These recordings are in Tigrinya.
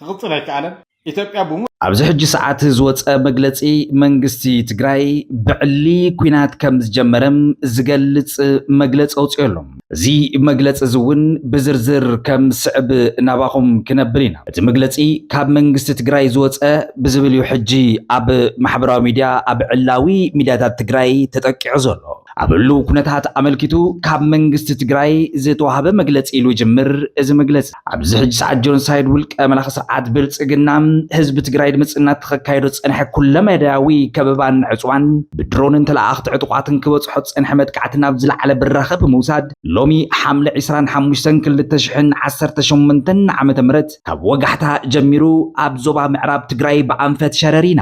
ክቕፅል ኣይከኣለን። ኢትዮጵያ ብሙሉእ። ኣብዚ ሕጂ ሰዓት ዝወፀ መግለፂ መንግስቲ ትግራይ ብዕሊ ኲናት ከምዝጀመረ ዝገልፅ መግለፂ ኣውፂኡ ኣሎ። እዚ መግለፂ እዚ እውን ብዝርዝር ከም ዝስዕብ ናባኹም ክነብል ኢና። እቲ መግለፂ ካብ መንግስቲ ትግራይ ዝወፀ ብዝብል እዩ ሕጂ ኣብ ማሕበራዊ ሚዲያ ኣብ ዕላዊ ሚዲያታት ትግራይ ተጠቂዑ ዘሎ። ኣብ ህልው ኩነታት ኣመልኪቱ ካብ መንግስቲ ትግራይ ዝተዋህበ መግለፂ ኢሉ ይጅምር እዚ መግለፂ። ኣብዚ ሕጂ ሰዓት ጆንሳይድ ውልቀ መላኺ ስርዓት ብልፅግና ህዝቢ ትግራይ ድምፂ እናተኸካየዶ ዝፀንሐ ኩለመዳያዊ ከበባን ዕፅዋን ብድሮንን ተለኣኣኽቲ ዕጡቓትን ክበፅሖ ዝፀንሐ መጥቃዕቲ ናብ ዝለዓለ ብራኸ ብምውሳድ ሎሚ ሓምለ ዕስራን ሓሙሽተን ክልተ ሽሕን ዓሰርተ ሸሞንተን ዓመተ ምህረት ካብ ወጋሕታ ጀሚሩ ኣብ ዞባ ምዕራብ ትግራይ ብኣንፈት ሸረሪና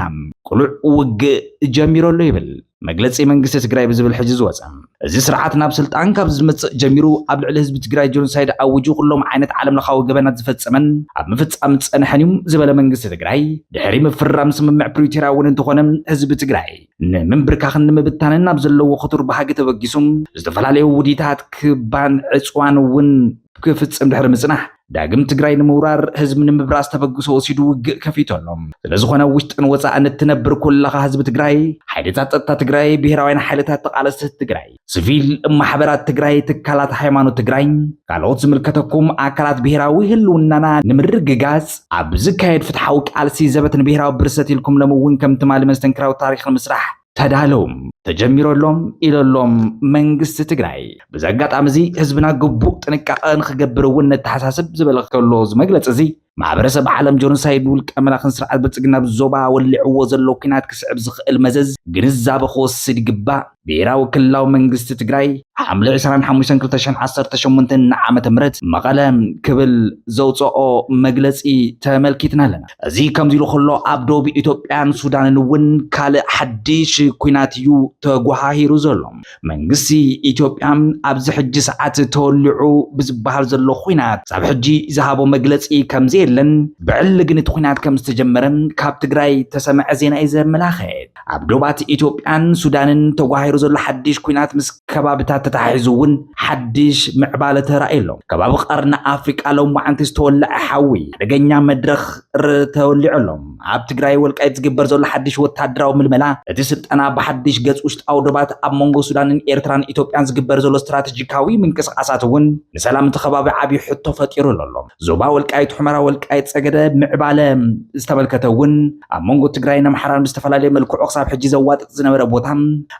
ቅሉዕ ውግእ ጀሚሩ ኣሎ ይብል። መግለፂ መንግስቲ ትግራይ ብዝብል ሕዚ ዝወፀ እዚ ስርዓት ናብ ስልጣን ካብ ዝመፅእ ጀሚሩ ኣብ ልዕሊ ህዝቢ ትግራይ ጆኖሳይድ ኣዊጁ ኩሎም ዓይነት ዓለም ለኻዊ ገበናት ዝፈፀመን ኣብ ምፍፃም ዝፀንሐን እዩ ዝበለ መንግስቲ ትግራይ ድሕሪ ምፍርራም ስምምዕ ፕሪቶርያ እውን እንተኾነ ህዝቢ ትግራይ ንምንብርካኽን ንምብታንን ናብ ዘለዎ ክቱር ባህጊ ተበጊሱ ዝተፈላለዩ ውዲታት ክባን ዕፅዋን እውን ክፍፅም ድሕሪ ምፅናሕ ዳግም ትግራይ ንምውራር ህዝቢ ንምብራስ ተበግሶ ወሲዱ ውግእ ከፊቱ ኣሎ። ስለዝኾነ ኣብ ውሽጥን ወፃእን እትነብር ኩላኻ ህዝቢ ትግራይ፣ ሓይልታት ፀጥታ ትግራይ፣ ብሄራውያን ሓይልታት ተቓለስቲ ህዝቢ ትግራይ፣ ስቪል ማሕበራት ትግራይ፣ ትካላት ሃይማኖት ትግራይ፣ ካልኦት ዝምልከተኩም ኣካላት ብሄራዊ ህልውናና ንምርግጋፅ ኣብ ዝካየድ ፍትሓዊ ቃልሲ ዘበት ንብሄራዊ ብርሰት ኢልኩም ሎሚ እውን ከም ትማሊ መስተንክራዊ ታሪኽ ንምስራሕ ተዳለውም ተጀሚሮሎም ኢለሎም መንግስቲ ትግራይ ብዚ ኣጋጣሚ እዚ ህዝብና ግቡእ ጥንቃቐ ንክገብር እውን ነተሓሳስብ ዝበለ ከሎ እዚ መግለፂ እዚ ማሕበረሰብ ዓለም ጆኖሳይድ ውልቀ መላኽን ስርዓት ብልፅግና ዞባ ወሊዕዎ ዘሎ ኩናት ክስዕብ ዝኽእል መዘዝ ግንዛበ ክወስድ ይግባእ። ብሄራዊ ክልላዊ መንግስቲ ትግራይ ሓምለ 25/2018 ንዓመተ ምህረት መቐለ ክብል ዘውፀኦ መግለፂ ተመልኪትና ኣለና። እዚ ከምዚ ኢሉ ከሎ ኣብ ደቡብ ኢትዮጵያን ሱዳንን እውን ካልእ ሓድሽ ኩናት እዩ ተጓሃሂሩ ዘሎ። መንግስቲ ኢትዮጵያ ኣብዚ ሕጂ ሰዓት ተወሊዑ ብዝበሃል ዘሎ ኩናት ሳብ ሕጂ ዝሃቦ መግለጺ ከምዘየለን ብዕሊ ግን እቲ ኩናት ከም ዝተጀመረ ካብ ትግራይ ተሰምዐ ዜና እዩ ዘመላኽት። ኣብ ዶባት ኢትዮጵያን ሱዳንን ተጓሂሩ ዘሎ ሓድሽ ኩናት ምስ ከባብታት ተተሓሒዙ እውን ሓድሽ ምዕባለ ተራእዩ ኣሎ። ከባቢ ቀርኒ ኣፍሪቃ ሎማዓንቲ ዝተወለዐ ሓዊ ሓደገኛ መድረኽ ተወሊዑ ኣሎ። ኣብ ትግራይ ወልቃይት ዝግበር ዘሎ ሓድሽ ወታደራዊ ምልመላ፣ እቲ ስልጠና ብሓድሽ ገጽ ውሽጣዊ ዶባት ኣብ መንጎ ሱዳንን ኤርትራን ኢትዮጵያን ዝግበር ዘሎ ስትራተጂካዊ ምንቅስቓሳት እውን ንሰላም እቲ ከባቢ ዓቢ ሕቶ ፈጢሩሉ ኣሎ። ዞባ ወልቃይት ሑመራ ወልቃይት ጸገደ ምዕባለ ዝተመልከተ እውን ኣብ መንጎ ትግራይን ኣምሓራን ብዝተፈላለየ መልክዑ ክሳብ ሕጂ ዘዋጥጥ ዝነበረ ቦታ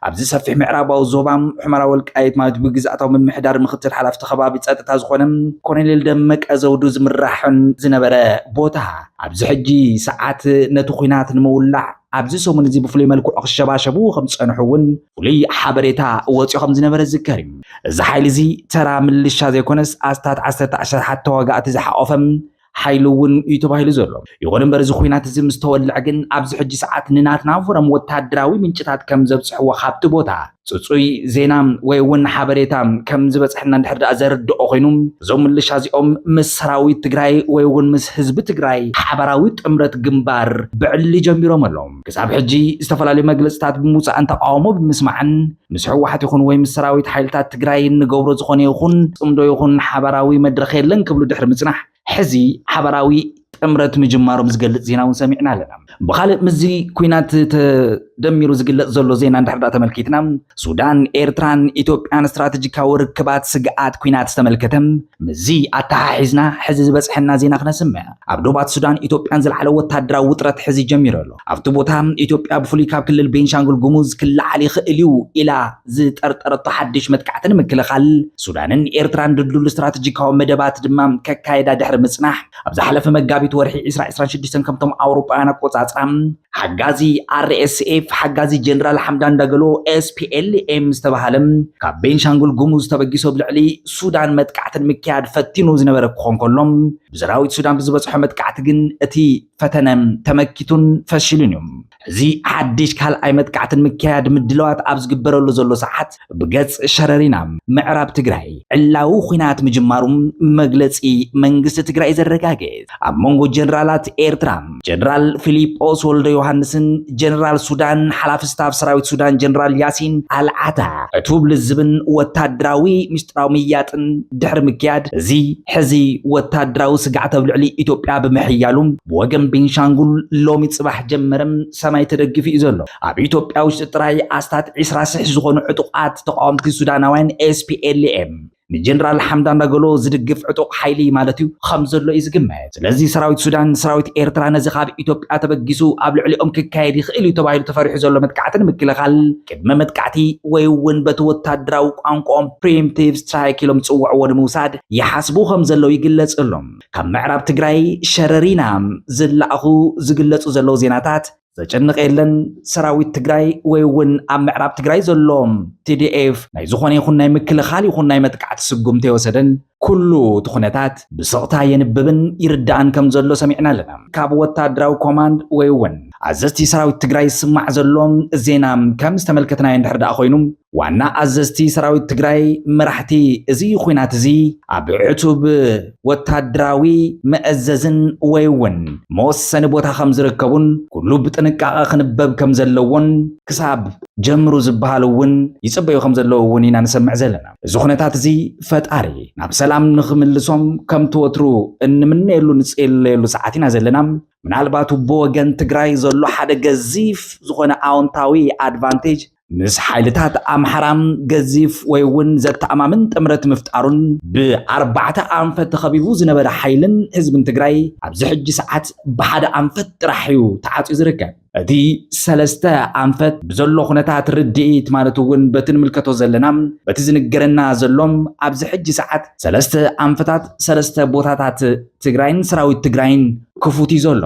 ኣብዚ ሰፊሕ ምዕራባዊ ዞባ ሑመራ ወልቃይት ማለት ብግዝኣታዊ ምምሕዳር ምክትል ሓላፍቲ ከባቢ ጸጥታ ዝኾነ ኮሎኔል ደመቀ ዘውዱ ዝምራሕን ዝነበረ ቦታ ኣብዚ ሕጂ ሰዓት ነቲ ኩናት ንምውላዕ ኣብዚ ሰሙን እዚ ብፍሉይ መልክዑ ክሸባሸቡ ከም ዝጸንሑ እውን ፍሉይ ሓበሬታ ወፂኦ ከም ዝነበረ ዝዝከር እዩ እዚ ሓይሊ እዚ ተራ ምልሻ ዘይኮነስ ኣስታት ዓሰርተ ኣሸሓት ተዋጋእቲ ዝሓቆፈ ሓይሊ እውን እዩ ተባሂሉ ዘሎ ይኹን እምበር እዚ ኩናት እዚ ምስ ተወልዐ ግን ኣብዚ ሕጂ ሰዓት ንናትና ፎረም ወተሃደራዊ ምንጭታት ከም ዘብፅሕዎ ካብቲ ቦታ ጽጹይ ዜና ወይ እውን ሓበሬታ ከም ዝበጽሐና እንድሕር ደኣ ዘርድኦ ኮይኑ እዞም ምልሻ እዚኦም ምስ ሰራዊት ትግራይ ወይ እውን ምስ ህዝቢ ትግራይ ሓባራዊ ጥምረት ግንባር ብዕሊ ጀሚሮም ኣሎም። ክሳብ ሕጂ ዝተፈላለዩ መግለጽታት ብምውጻእን ተቃውሞ ብምስማዕን ምስ ህወሓት ይኹን ወይ ምስ ሰራዊት ሓይልታት ትግራይ እንገብሮ ዝኾነ ይኹን ጽምዶ ይኹን ሓባራዊ መድረኽ የለን ክብሉ ድሕሪ ምጽናሕ ሕዚ ሓበራዊ ጥምረት ምጅማሮም ዝገልፅ ዜና እውን ሰሚዕና ኣለና። ብካልእ ምስዚ ኩናት ተደሚሩ ዝግለፅ ዘሎ ዜና እንድሕር ዳኣ ተመልኪትና ሱዳን፣ ኤርትራን ኢትዮጵያን ስትራተጂካዊ ርክባት ስግኣት ኩናት ዝተመልከተ ምስዚ ኣተሓሒዝና ሕዚ ዝበፅሐና ዜና ክነስምዕ። ኣብ ዶባት ሱዳን ኢትዮጵያን ዝለዓለ ወታደራዊ ውጥረት ሕዚ ጀሚሩ ኣሎ። ኣብቲ ቦታ ኢትዮጵያ ብፍሉይ ካብ ክልል ቤንሻንጉል ጉሙዝ ክለዓል ይኽእል እዩ ኢላ ዝጠርጠረቶ ሓድሽ መጥቃዕቲ ንምክልኻል ሱዳንን ኤርትራን ድልዱል ስትራተጂካዊ መደባት ድማ ከካየዳ ድሕሪ ምጽናሕ ኣብ ዝሓለፈ መጋቢት ወርሒ ዕስራ ዕስራን ሽዱሽተን ከምቶም ኣውሮጳውያን ኣቆጻጽራ ሓጋዚ RSF ሓጋዚ ጀነራል ሓምዳን ዳገሎ SPLM ዝተባሃለ ካብ ቤንሻንጉል ጉሙዝ ተበጊሶ ኣብ ልዕሊ ሱዳን መጥቃዕቲ ንምክያድ ፈቲኑ ዝነበረ ክኾን ከሎ ብሰራዊት ሱዳን ብዝበጽሖ መጥቃዕቲ ግን እቲ ፈተነ ተመኪቱን ፈሽሉን እዩ። እዚ ሓድሽ ካልኣይ መጥቃዕቲ ንምክያድ ምድላዋት ኣብ ዝግበረሉ ዘሎ ሰዓት ብገጽ ሸረሪና ምዕራብ ትግራይ ዕላዊ ኲናት ምጅማሩ መግለጺ መንግስቲ ትግራይ ዘረጋግጽ ኣብ መንጎ ጀነራላት ኤርትራ ጀነራል ፊሊጶስ ወልደ ዮሃንስን ጀነራል ሱዳን ሓላፊ ስታፍ ሰራዊት ሱዳን ጀነራል ያሲን ኣልዓታ ዕቱብ ልዝብን ወታደራዊ ምስጢራዊ ምያጥን ድሕሪ ምክያድ እዚ ሕዚ ወታደራዊ ስግዓት ኣብ ልዕሊ ኢትዮጵያ ብምሕያሉ ብወገን ቤንሻንጉል ሎሚ ፅባሕ ጀመረ ሰማይ ተደጊፉ እዩ ዘሎ። ኣብ ኢትዮጵያ ውሽጢ ጥራይ ኣስታት ዕስራ ስሕ ዝኾኑ ዕጡቓት ተቓወምቲ ሱዳናውያን SPLM ንጀነራል ሓምዳን ዳገሎ ዝድግፍ ዕጡቕ ሓይሊ ማለት እዩ ኸም ዘሎ እዩ ዝግመት። ስለዚ ሰራዊት ሱዳን ንሰራዊት ኤርትራ ነዚ ካብ ኢትዮጵያ ተበጊሱ ኣብ ልዕሊኦም ክካየድ ይኽእል እዩ ተባሂሉ ተፈሪሑ ዘሎ መጥቃዕቲ ንምክልኻል ቅድመ መጥቃዕቲ ወይ እውን በቲ ወታደራዊ ቋንቋኦም ፕሪምቲቭ ስትራይክ ኢሎም ዝፅውዕዎ ንምውሳድ ይሓስቡ ከም ዘለዉ ይግለጽ ኣሎ። ካብ ምዕራብ ትግራይ ሸረሪና ዝለኣኹ ዝግለጹ ዘለዉ ዜናታት ዘጨንቕ የለን ሰራዊት ትግራይ ወይ እውን ኣብ ምዕራብ ትግራይ ዘሎ ቲዲኤፍ ናይ ዝኾነ ይኹን ናይ ምክልኻል ይኹን ናይ መጥቃዕቲ ስጉምቲ የወሰደን ኩሉ እቲ ኩነታት ብስቕታ የንብብን ይርዳእን ከም ዘሎ ሰሚዕና ኣለና ካብ ወታደራዊ ኮማንድ ወይ እውን ኣዘዝቲ ሰራዊት ትግራይ ዝስማዕ ዘሎ ዜና ከም ዝተመልከትናዮ እንድሕር ደኣ ኮይኑ ዋና ኣዘዝቲ ሰራዊት ትግራይ መራሕቲ እዚ ኹናት እዚ ኣብ ዕቱብ ወታደራዊ መእዘዝን ወይ እውን መወሰኒ ቦታ ከም ዝርከቡን ኩሉ ብጥንቃቐ ክንበብ ከም ዘለዎን ክሳብ ጀምሩ ዝበሃል እውን ይፅበዩ ከም ዘለዉ እውን ኢና ንሰምዕ ዘለና። እዚ ኩነታት እዚ ፈጣሪ ናብ ሰላም ንክምልሶም ከምቲ ወትሩ እንምነየሉ ንፅለየሉ ሰዓት ኢና ዘለና። ምናልባት ብወገን ትግራይ ዘሎ ሓደ ገዚፍ ዝኾነ ኣውንታዊ ኣድቫንቴጅ ምስ ሓይልታት ኣምሓራ ገዚፍ ወይ እውን ዘተኣማምን ጥምረት ምፍጣሩን ብኣርባዕተ ኣንፈት ተኸቢቡ ዝነበረ ሓይልን ህዝብን ትግራይ ኣብዚ ሕጂ ሰዓት ብሓደ ኣንፈት ጥራሕ እዩ ተዓፅዩ ዝርከብ። እቲ ሰለስተ ኣንፈት ብዘሎ ኩነታት ርድኢት ማለት እውን በቲ ንምልከቶ ዘለና በቲ ዝንገረና ዘሎም ኣብዚ ሕጂ ሰዓት ሰለስተ ኣንፈታት ሰለስተ ቦታታት ትግራይን ሰራዊት ትግራይን ክፉት እዩ ዘሎ።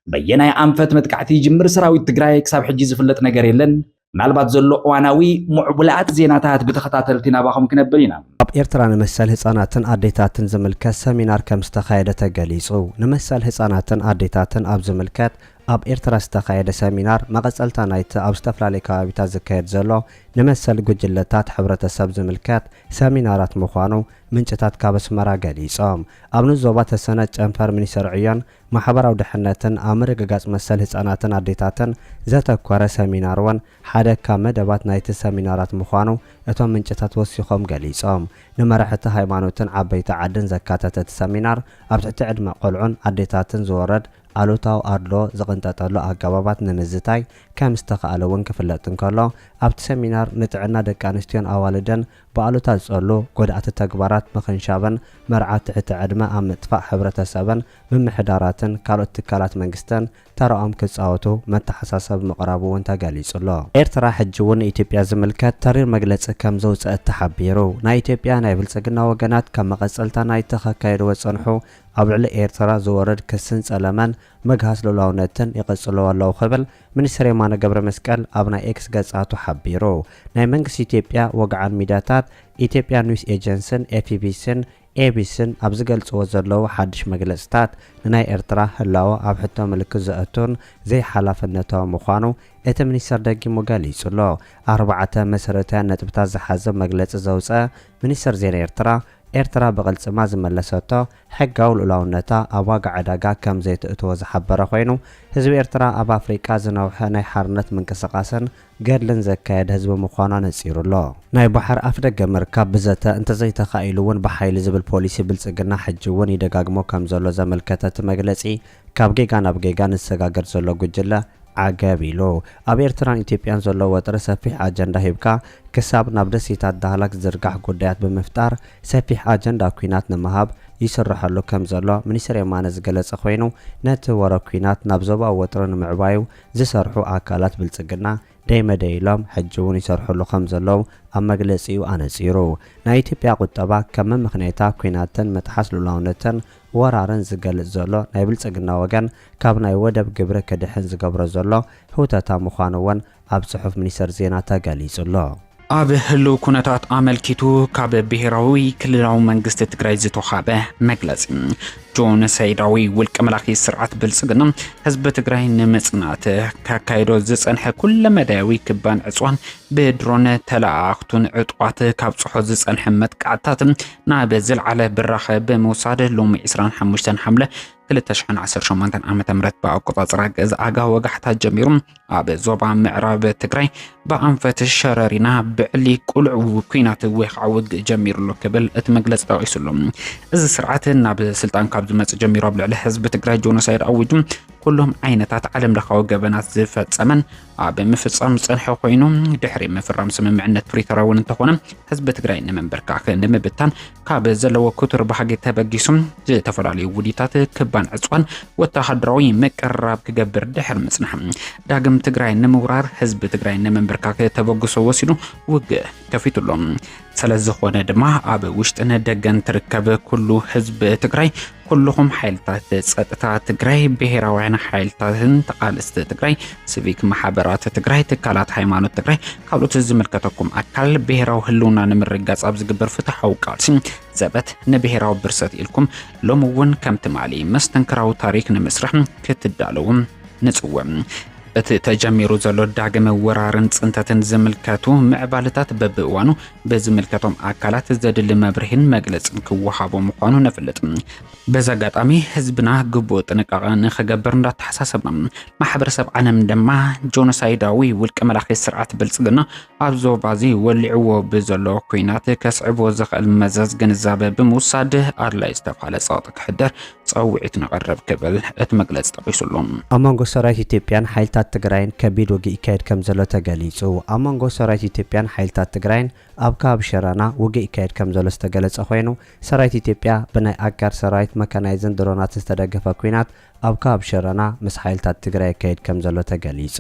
በየናይ ኣንፈት መጥቃዕቲ ይጅምር ሰራዊት ትግራይ ክሳብ ሕጂ ዝፍለጥ ነገር የለን። ምናልባት ዘሎ እዋናዊ ምዕቡላት ዜናታት ብተኸታተልቲ ናባኹም ክነብል ኢና። ኣብ ኤርትራ ንመሰል ህጻናትን ኣዴታትን ዝምልከት ሰሚናር ከም ዝተኻየደ ተገሊጹ። ንመሰል ህጻናትን ኣዴታትን ኣብ ዝምልከት ኣብ ኤርትራ ዝተኻየደ ሰሚናር መቐጸልታ ናይቲ ኣብ ዝተፈላለዩ ከባቢታት ዝካየድ ዘሎ ንመሰል ጉጅለታት ሕብረተሰብ ዝምልከት ሰሚናራት ምዃኑ ምንጭታት ካብ ኣስመራ ገሊጾም። ኣብ ንዞባ ተሰነጥ ጨንፈር ሚኒስተር ዕዮን ማሕበራዊ ድሕነትን ኣብ ምርግጋፅ መሰል ህፃናትን ኣዴታትን ዘተኮረ ሰሚናር እውን ሓደ ካብ መደባት ናይቲ ሰሚናራት ምዃኑ እቶም ምንጭታት ወሲኾም ገሊፆም። ንመራሕቲ ሃይማኖትን ዓበይቲ ዓድን ዘካተተ እቲ ሰሚናር ኣብ ትሕቲ ዕድመ ቆልዑን ኣዴታትን ዝወረድ ኣሉታዊ ኣድልዎ ዝቕንጠጠሉ ኣገባባት ንምዝታይ ከምዝተኽኣለ እውን ክፍለጥ እንከሎ ኣብቲ ሰሚናር ንጥዕና ደቂ ኣንስትዮን ኣዋልድን ብኣሉታ ዝጸሉ ጎዳእቲ ተግባራት ምኽንሻበን፣ መርዓ ትሕቲ ዕድመ ኣብ ምጥፋእ ሕብረተሰብን ምምሕዳራትን ካልኦት ትካላት መንግስትን ተራኦም ክጻወቱ መተሓሳሰቢ ምቕራቡ እውን ተገሊጹ'ሎ። ኤርትራ ሕጂ እውን ንኢትዮጵያ ዝምልከት ተሪር መግለጺ ከም ዘውጸእት ተሓቢሩ። ናይ ኢትዮጵያ ናይ ብልጽግና ወገናት ከም መቐጸልታ ናይቲ ከካየድዎ ዝጸንሑ ኣብ ልዕሊ ኤርትራ ዝወርድ ክስን ጸለመን ምግሃስ ልኡላውነትን ይቕጽልዎ ኣለዉ ክብል ሚኒስተር የማነ ገብረመስቀል ኣብ ናይ ኤክስ ገጻቱ ሓቢሩ። ናይ መንግስቲ ኢትዮጵያ ወግዓን ሚድያታት ኢትዮጵያ ኒውስ ኤጀንስን ኤፍቢሲን ኤቢሲን ኣብ ዝገልጽዎ ዘለዉ ሓድሽ መግለጽታት ንናይ ኤርትራ ህላወ ኣብ ሕቶ ምልክት ዘእቱን ዘይሓላፍነታዊ ምዃኑ እቲ ሚኒስተር ደጊሙ ገሊጹ'ሎ። ኣርባዕተ መሰረታውያን ነጥብታት ዝሓዘ መግለጺ ዘውጸ ሚኒስተር ዜና ኤርትራ፣ ኤርትራ ብቕልጽማ ዝመለሰቶ ሕጋዊ ልኡላውነታ ኣብ ዋጋ ዕዳጋ ከም ዘይተእትዎ ዝሓበረ ኮይኑ፣ ህዝቢ ኤርትራ ኣብ ኣፍሪቃ ዝነውሐ ናይ ሓርነት ምንቅስቓስን ገድልን ዘካየደ ህዝቢ ምዃኑ ኣነጺሩ ኣሎ። ናይ ባሕሪ ኣፍደገ ምርካብ ብዘተ እንተዘይተኻኢሉ'ውን ብሓይሊ ዝብል ፖሊሲ ብልጽግና ሕጂ'ውን ይደጋግሞ ከም ዘሎ ዘመልከተ እቲ መግለጺ፣ ካብ ጌጋ ናብ ጌጋ ንሰጋገር ዘሎ ጉጅለ ዓገብ ኢሉ። ኣብ ኤርትራን ኢትዮጵያን ዘሎ ወጥሪ ሰፊሕ ኣጀንዳ ሂብካ ክሳብ ናብ ደሴታት ዳህላክ ዝዝርጋሕ ጉዳያት ብምፍጣር ሰፊሕ ኣጀንዳ ኩናት ንምሃብ ይስረሐሉ ከም ዘሎ ሚኒስተር የማነ ዝገለጸ ኮይኑ ነቲ ወረ ኩናት ናብ ዞባዊ ወጥሪ ንምዕባዩ ዝሰርሑ ኣካላት ብልጽግና ደይ መደይ ኢሎም ሕጂውን ይሰርሕሉ ከም ዘለዉ ኣብ መግለጺኡ ኣነጺሩ። ናይ ኢትዮጵያ ቁጠባ ከም መመኽነይታ ኩናትን ምጥሓስ ሉላውነትን ወራርን ዝገልጽ ዘሎ ናይ ብልጽግና ወገን ካብ ናይ ወደብ ግብሪ ክድሕን ዝገብሮ ዘሎ ህውተታ ምዃኑ እውን ኣብ ጽሑፍ ሚኒስተር ዜና ተገሊጹ ኣሎ። ኣብ ህሉው ኩነታት ኣመልኪቱ ካብ ብሄራዊ ክልላዊ መንግስቲ ትግራይ ዝተውሃበ መግለፂ ጆኖሳይዳዊ ውልቀ መላኺ ስርዓት ብልፅግና ህዝቢ ትግራይ ንምፅናት ካካይዶ ዝፀንሐ ኩለ መዳያዊ ክባን ዕፅዋን ብድሮን ተለኣኣኽቱን ዕጡቓት ካብ ፅሖ ዝፀንሐ መጥቃዕትታት ናብ ዝለዓለ ብራኸ ብምውሳድ ሎሚ 25 ሓምለ 2018 ዓ ም ብኣቆፃፅራ ገዛ ኣጋ ወጋሕታ ጀሚሩ ኣብ ዞባ ምዕራብ ትግራይ ብኣንፈት ሸረሪና ብዕሊ ቁልዕ ኩናት ወይ ከዓ ውግእ ጀሚሩሎ ክብል እቲ መግለፂ ጠቂሱሉ እዚ ስርዓት ናብ ስልጣን ካብ ዝመፅእ ጀሚሩ ኣብ ልዕሊ ህዝቢ ትግራይ ጆኖሳይድ ኣዊጁ ኩሎም ዓይነታት ዓለም ለኻዊ ገበናት ዝፈፀመን ኣብ ምፍጻም ዝጸንሐ ኮይኑ ድሕሪ ምፍራም ስምምዕነት ፕሪቶርያ እውን እንተኾነ ህዝቢ ትግራይ ንምንብርካኽ ንምብታን ካብ ዘለዎ ክቱር ባህጊ ተበጊሱ ዝተፈላለዩ ውዲታት ክባን ዕፅዋን ወተሃደራዊ ምቅርራብ ክገብር ድሕሪ ምጽናሕ ዳግም ትግራይ ንምውራር ህዝቢ ትግራይ ንምንብርካኽ ተበግሶ ወሲዱ ውግእ ከፊቱሎም ሰለዝኾነ ድማ ኣብ ውሽጥን ደገን ትርከብ ኩሉ ህዝቢ ትግራይ ኩልኹም ሓይልታት ጸጥታ ትግራይ፣ ብሄራውያን ሓይልታትን ተቓለስቲ ትግራይ፣ ሲቪክ ማሕበራት ትግራይ፣ ትካላት ሃይማኖት ትግራይ፣ ካልኦት ዝምልከተኩም ኣካል ብሄራዊ ህልውና ንምርጋጽ ኣብ ዝግበር ፍትሓዊ ቃልሲ ዘበት ንብሄራዊ ብርሰት ኢልኩም ሎሚ እውን ከም ትማሊ መስተንክራዊ ታሪክ ንምስራሕ ክትዳለዉ ንጽውዕ። እቲ ተጀሚሩ ዘሎ ዳግመ ወራርን ጽንተትን ዝምልከቱ ምዕባለታት በብእዋኑ ብዝምልከቶም ኣካላት ዘድሊ መብርሂን መግለጽን ክወሃቦ ምዃኑ ነፍልጥ። በዚ ኣጋጣሚ ህዝብና ግቡእ ጥንቃቐ ንክገብር እንዳተሓሳሰብና ማሕበረሰብ ዓለም ድማ ጆኖሳይዳዊ ውልቀ መላኺ ስርዓት ብልጽግና ኣብ ዞባዚ ወሊዕዎ ብዘሎ ኩናት ከስዕቦ ዝኽእል መዘዝ ግንዛበ ብምውሳድ ኣድላይ ዝተባሃለ ጸቕጢ ክሕደር ጸውዒት ነቕርብ ክብል እቲ መግለጺ ጠቒሱ ኣሎ። ኣብ መንጎ ሰራዊት ኢትዮጵያን ሓይልታት ትግራይን ከቢድ ውግእ ይካየድ ከምዘሎ ተገሊፁ። ኣብ መንጎ ሰራዊት ኢትዮጵያን ሓይልታት ትግራይን ኣብ ከባቢ ሸራና ውግእ ይካየድ ከምዘሎ ዝተገለፀ ኮይኑ ሰራዊት ኢትዮጵያ ብናይ ኣጋር ሰራዊት መካናይዝን ድሮናትን ዝተደገፈ ኲናት ኣብ ከባቢ ሸራና ምስ ሓይልታት ትግራይ የካይድ ከምዘሎ ተገሊፁ።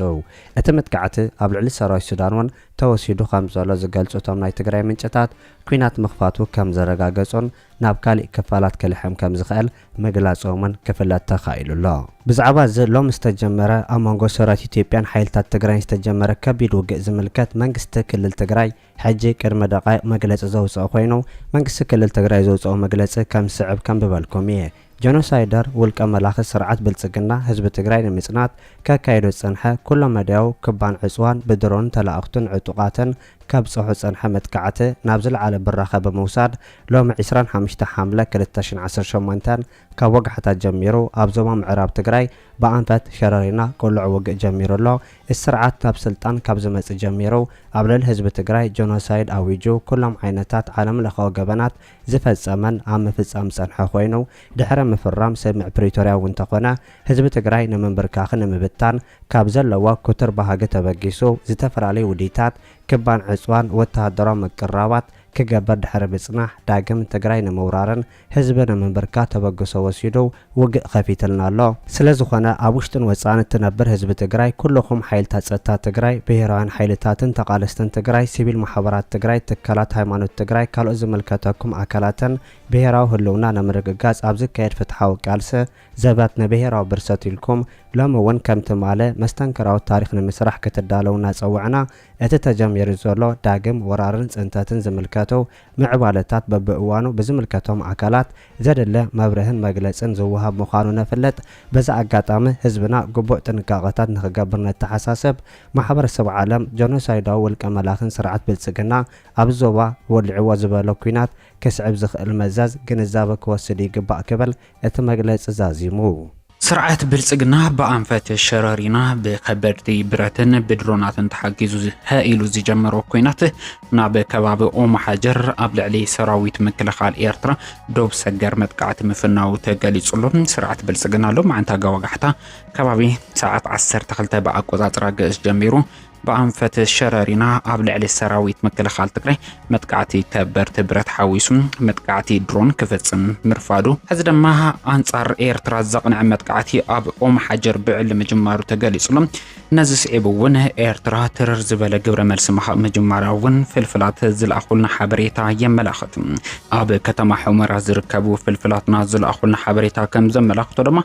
እቲ መጥቃዕቲ ኣብ ልዕሊ ሰራዊት ሱዳን እውን ተወሲዱ ከምዘሎ ዝገልፁ እቶም ናይ ትግራይ ምንጭታት ኲናት ምኽፋቱ ከምዘረጋገፁን ናብ ካሊእ ክፋላት ክልሕም ከምዝኽእል ምግላፆም እውን ክፍለጥ ተኻኢሉ ኣሎ። ብዛዕባ እዚ ሎሚ ዝተጀመረ ኣብ መንጎ ሰራዊት ኢትዮጵያን ሓይልታት ትግራይን ዝተጀመረ ከቢድ ውግእ ዝምልከት መንግስቲ ክልል ትግራይ ሕጂ ቅድሚ ደቓይቕ መግለፂ ዘውፀኦ ኮይኑ መንግስቲ ክልል ትግራይ ዘውፀኦ መግለፂ ከምዝስዕብ ከንብበልኩም እየ። ጀኖሳይደር ውልቀ መላኺ ስርዓት ብልፅግና ህዝቢ ትግራይ ንምፅናት ከካይዶ ዝፀንሐ ኩለ መዳያዊ ክባን ዕፅዋን ብድሮንን ተላእኽቱን ዕጡቓትን ከብጽሑ ዝጸንሐ መጥቃዕቲ ናብ ዝለዓለ ብራኸ ብምውሳድ ሎሚ ዕስራን ሓምሽተ ሓምለ ክልተ ሽሕን ዓሰርተ ሸሞንተን ካብ ወጋሕታ ጀሚሩ ኣብ ዞባ ምዕራብ ትግራይ ብኣንፈት ሸረሪና ቅሉዕ ውግእ ጀሚሩ ኣሎ። እዚ ስርዓት ናብ ስልጣን ካብ ዝመጽእ ጀሚሩ ኣብ ልዕሊ ህዝቢ ትግራይ ጆኖሳይድ ኣዊጁ ኩሎም ዓይነታት ዓለም ለኻዊ ገበናት ዝፈጸመን ኣብ ምፍጻም ዝጸንሐ ኮይኑ ድሕሪ ምፍራም ስምምዕ ፕሪቶርያ እውን እንተኾነ ህዝቢ ትግራይ ንምንብርካኽን ንምብታን ካብ ዘለዎ ኩትር ባህጊ ተበጊሱ ዝተፈላለዩ ውዲታት፣ ክባን ዕጽዋን ወተሃደራዊ ምቅርራባት ክገብር ድሕሪ ምጽናሕ ዳግም ትግራይ ንምውራርን ህዝቢ ንምንብርካ ተበግሶ ወሲዱ ውግእ ከፊትልና ኣሎ። ስለዝኾነ ኣብ ውሽጥን ወጻእን እትነብር ህዝቢ ትግራይ፣ ኩሉኹም ሓይልታት ጸጥታ ትግራይ፣ ብሄራውያን ሓይልታትን ተቓለስትን ትግራይ፣ ሲቪል ማሕበራት ትግራይ፣ ትካላት ሃይማኖት ትግራይ፣ ካልኦት ዝምልከተኩም ኣካላትን ብሄራዊ ህልውና ንምርግጋጽ ኣብ ዝካየድ ፍትሓዊ ቃልሲ ዘበት ንብሄራዊ ብርሰት ኢልኩም ሎሚ እውን ከም ትማሊ መስተንክራዊ ታሪኽ ንምስራሕ ክትዳለዉ እናፀዋዕና እቲ ተጀሚሩ ዘሎ ዳግም ወራርን ፅንተትን ዝምልከቱ ምዕባለታት በቢእዋኑ ብዝምልከቶም ኣካላት ዘድሊ መብርህን መግለፅን ዝወሃብ ምዃኑ ነፍልጥ። በዚ ኣጋጣሚ ህዝብና ግቡእ ጥንቃቐታት ንክገብር ነተሓሳስብ። ማሕበረሰብ ዓለም ጀኖሳይዳዊ ውልቀ መላኺን ስርዓት ብልፅግና ኣብ ዞባ ወሊዕዎ ዝበሎ ኲናት ከስዕብ ዝኽእል መዘዝ ግንዛበ ክወስድ ይግባእ ክብል እቲ መግለፂ ዛዚሙ። ስርዓት ብልፅግና ብኣንፈት ሸረሪና ብከበድቲ ብረትን ብድሮናትን ተሓጊዙ ሀ ኢሉ ዝጀመሮ ኲናት ናብ ከባቢ ኦምሓጀር ኣብ ልዕሊ ሰራዊት ምክልኻል ኤርትራ ዶብ ሰገር መጥቃዕቲ ምፍናዉ ተገሊጹሉ። ስርዓት ብልፅግና ሎማዕንቲ ኣጋወጋሕታ ከባቢ ሰዓት ዓሰርተ ክልተ ብኣቆጻጽራ ግእዝ ጀሚሩ ብኣንፈት ሸረሪና ኣብ ልዕሊ ሰራዊት ምክልኻል ትግራይ መጥቃዕቲ ከበድቲ ብረት ሓዊሱ መጥቃዕቲ ድሮን ክፍጽም ምርፋዱ ሕዚ ድማ ኣንጻር ኤርትራ ዘቕንዐ መጥቃዕቲ ኣብ ኦም ሓጀር ብዕሊ ምጅማሩ ተገሊጹ ኣሎ። ነዚ ስዒቡ እውን ኤርትራ ትርር ዝበለ ግብረ መልሲ ምሃብ ምጅማራ እውን ፍልፍላት ዝለኣኹልና ሓበሬታ የመላኽት። ኣብ ከተማ ሑመራ ዝርከቡ ፍልፍላትና ዝለኣኹልና ሓበሬታ ከም ዘመላኽቶ ድማ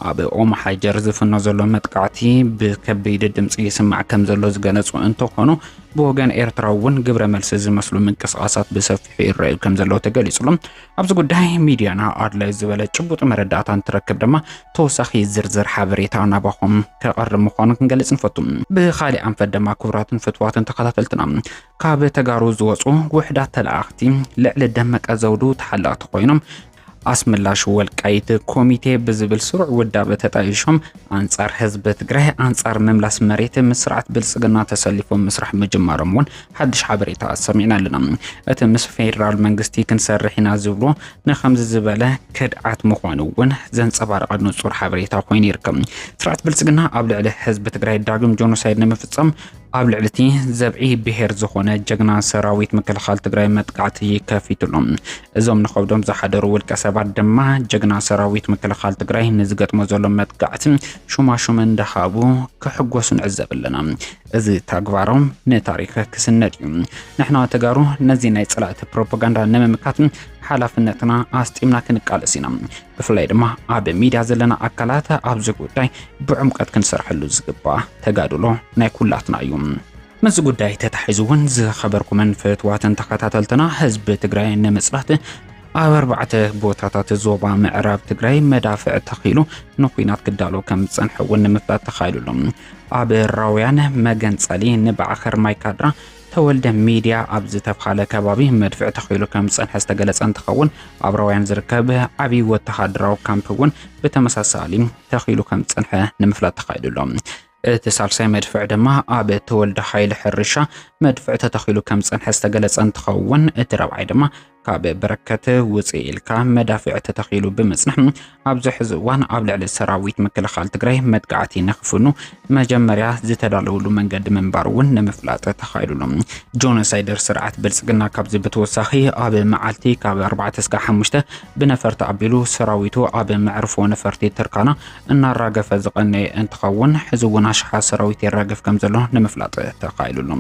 ኣብ ኦምሓጀር ዝፍኖ ዘሎ መጥቃዕቲ ብከበይዲ ድምፂ ይስማዕ ከም ዘሎ ዝገለፁ እንተኾኑ ብወገን ኤርትራ እውን ግብረ መልሲ ዝመስሉ ምንቅስቓሳት ብሰፊሑ ይረኣዩ ከም ዘለዉ ተገሊጹሉ። ኣብዚ ጉዳይ ሚድያና ኣድላይ ዝበለ ጭቡጥ መረዳእታ እንትረክብ ድማ ተወሳኺ ዝርዝር ሓበሬታ ናባኹም ከቐርብ ምዃኑ ክንገልጽ ንፈቱ። ብኻሊእ ኣንፈት ድማ ክቡራትን ፍትዋትን ተኸታተልትና ካብ ተጋሩ ዝወፁ ውሕዳት ተለኣኽቲ ልዕሊ ደመቀ ዘውዱ ተሓለቕቲ ኮይኖም ኣስመላሽ ወልቃይት ኮሚቴ ብዝብል ስሩዕ ውዳበ ተጣይሾም ኣንጻር ህዝቢ ትግራይ ኣንጻር ምምላስ መሬት ምስ ስርዓት ብልጽግና ተሰሊፎም ምስራሕ ምጅማሮም እውን ሓድሽ ሓበሬታ ሰሚዕና ኣለና። እቲ ምስ ፌዴራል መንግስቲ ክንሰርሕ ኢና ዝብሎ ንከምዚ ዝበለ ክድዓት ምዃኑ እውን ዘንጸባረቐ ንጹር ሓበሬታ ኮይኑ ይርከብ። ስርዓት ብልጽግና ኣብ ልዕሊ ህዝቢ ትግራይ ዳግም ጆኖሳይድ ንምፍጸም ኣብ ልዕሊ እቲ ዘብዒ ብሄር ዝኾነ ጀግና ሰራዊት ምክልኻል ትግራይ መጥቃዕቲ ከፊትሉ። እዞም ንኸብዶም ዝሓደሩ ውልቀ ሰባት ድማ ጀግና ሰራዊት ምክልኻል ትግራይ ንዝገጥሞ ዘሎ መጥቃዕቲ ሹማሹም እንዳሃቡ ክሕጎሱ ንዕዘብ ኣለና። እዚ ተግባሮም ንታሪክ ክስነድ እዩ። ንሕና ተጋሩ ነዚ ናይ ጸላእቲ ፕሮፓጋንዳ ንምምካት ሓላፍነትና ኣስጢምና ክንቃለስ ኢና። ብፍላይ ድማ ኣብ ሚድያ ዘለና ኣካላት ኣብዚ ጉዳይ ብዕምቀት ክንሰርሐሉ ዝግባእ ተጋድሎ ናይ ኩላትና እዩ። ምስዚ ጉዳይ ተታሒዙ እውን ዝኸበርኩምን ፍትዋትን ተኸታተልትና ህዝቢ ትግራይ ንምፅላት ኣብ ኣርባዕተ ቦታታት ዞባ ምዕራብ ትግራይ መዳፍዕ ተኺሉ ንኩናት ክዳሎ ከም ዝፀንሐ እውን ንምፍላጥ ተኻኢሉ ኣሎ። ኣብ ራውያን መገንፀሊ ንባዕኸር ማይካድራ ተወልደ ሚድያ ኣብ ዝተብሃለ ከባቢ መድፍዕ ተኺሉ ከም ዝፀንሐ ዝተገለፀ እንትኸውን ኣብ ራውያን ዝርከብ ዓብዪ ወተሃደራዊ ካምፕ እውን ብተመሳሳሊ ተኺሉ ከም ዝፀንሐ ንምፍላጥ ተኻይዱ ኣሎ። እቲ ሳልሳይ መድፍዕ ድማ ኣብ ተወልደ ሓይሊ ሕርሻ መድፍዕ ተተኺሉ ከም ዝፀንሐ ዝተገለፀ እንትኸውን እቲ ራብዓይ ድማ ካብ በረከት ውፅእ ኢልካ መዳፍዕ ተተኺሉ ብምጽናሕ ኣብዚ ሕዚ እዋን ኣብ ልዕሊ ሰራዊት ምክልኻል ትግራይ መጥቃዕቲ ንክፍኑ መጀመርያ ዝተዳለውሉ መንገዲ ምንባር እውን ንምፍላጥ ተኻይሉሉ ጆኖሳይደር ስርዓት ብልፅግና ካብዚ ብተወሳኺ ኣብ መዓልቲ ካብ 4 እስከ 5 ብነፈርቲ ኣቢሉ ሰራዊቱ ኣብ መዕርፎ ነፈርቲ ትርካና እናራገፈ ዝቐነየ እንትኸውን ሕዚ እውን ኣሽሓ ሰራዊት የራግፍ ከም ዘሎ ንምፍላጥ ተኻይሉሉ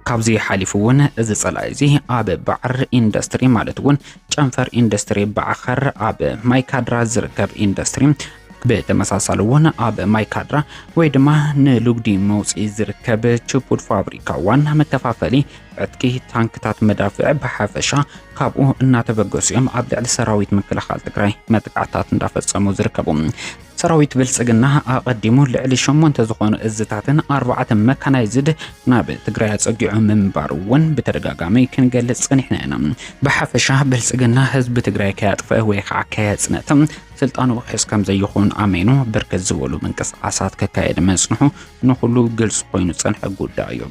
ካብዚ ሓሊፉ እውን እዚ ጸላኢ እዚ ኣብ ባዕር ኢንዱስትሪ ማለት እውን ጨንፈር ኢንዱስትሪ ባዕኸር ኣብ ማይካድራ ዝርከብ ኢንዱስትሪ ብተመሳሳሊ እውን ኣብ ማይካድራ ወይ ድማ ንልጉዲ መውፅኢ ዝርከብ ችፑድ ፋብሪካ ዋና መከፋፈሊ ዕጥቂ ታንክታት መዳፍዕ ብሓፈሻ ካብኡ እናተበገሱ እዮም ኣብ ልዕሊ ሰራዊት ምክልኻል ትግራይ መጥቃዕታት እንዳፈፀሙ ዝርከቡ ሰራዊት ብልጽግና ኣቐዲሙ ልዕሊ ሸሞንተ ዝኾኑ እዝታትን ኣርባዕተ መካናይዝድ ናብ ትግራይ ኣጸጊዑ ምንባሩ እውን ብተደጋጋሚ ክንገልጽ ጸኒሕና ኢና። ብሓፈሻ ብልጽግና ህዝቢ ትግራይ ከያጥፈ ወይ ከዓ ከየጽነተ ስልጣኑ ውሕስ ከም ዘይኾን ኣሜኑ ብርክት ዝበሉ ምንቅስቃሳት ከካየድ መጽንሑ ንኹሉ ግልጽ ኮይኑ ዝጸንሐ ጉዳይ እዩ።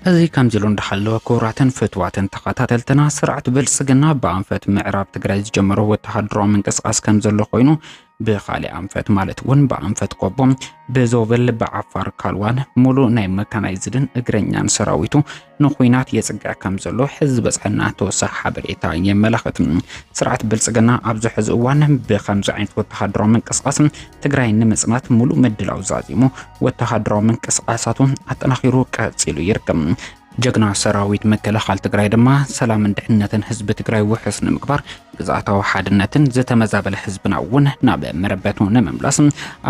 እዚ ከምዚ ኢሉ እንዳሃለወ ክቡራትን ፍትዋትን ተኸታተልትና ስርዓት ብልጽግና ብኣንፈት ምዕራብ ትግራይ ዝጀመሮ ወተሃደራዊ ምንቅስቃስ ከም ዘሎ ኮይኑ ብኻሊእ ኣንፈት ማለት እውን ብኣንፈት ቆቦ፣ ብዞብል፣ ብዓፋር ካልዋን ሙሉእ ናይ መካናይዝድን እግረኛን ሰራዊቱ ንኩናት የፅግዕ ከም ዘሎ ሕዚ ዝበፅሐና ተወሳኺ ሓበሬታ የመላኽት። ስርዓት ብልፅግና ኣብዚ ሕዚ እዋን ብከምዚ ዓይነት ወተሃደራዊ ምንቅስቃስ ትግራይ ንምፅናት ሙሉእ ምድላው ዛዚሙ ወተሃደራዊ ምንቅስቃሳቱ ኣጠናኺሩ ቀፂሉ ይርከብ። ጀግና ሰራዊት ምክልኻል ትግራይ ድማ ሰላምን ድሕነትን ህዝቢ ትግራይ ውሑስ ንምግባር ግዝኣታዊ ሓድነትን ዝተመዛበለ ህዝብና እውን ናብ መረበቱ ንምምላስ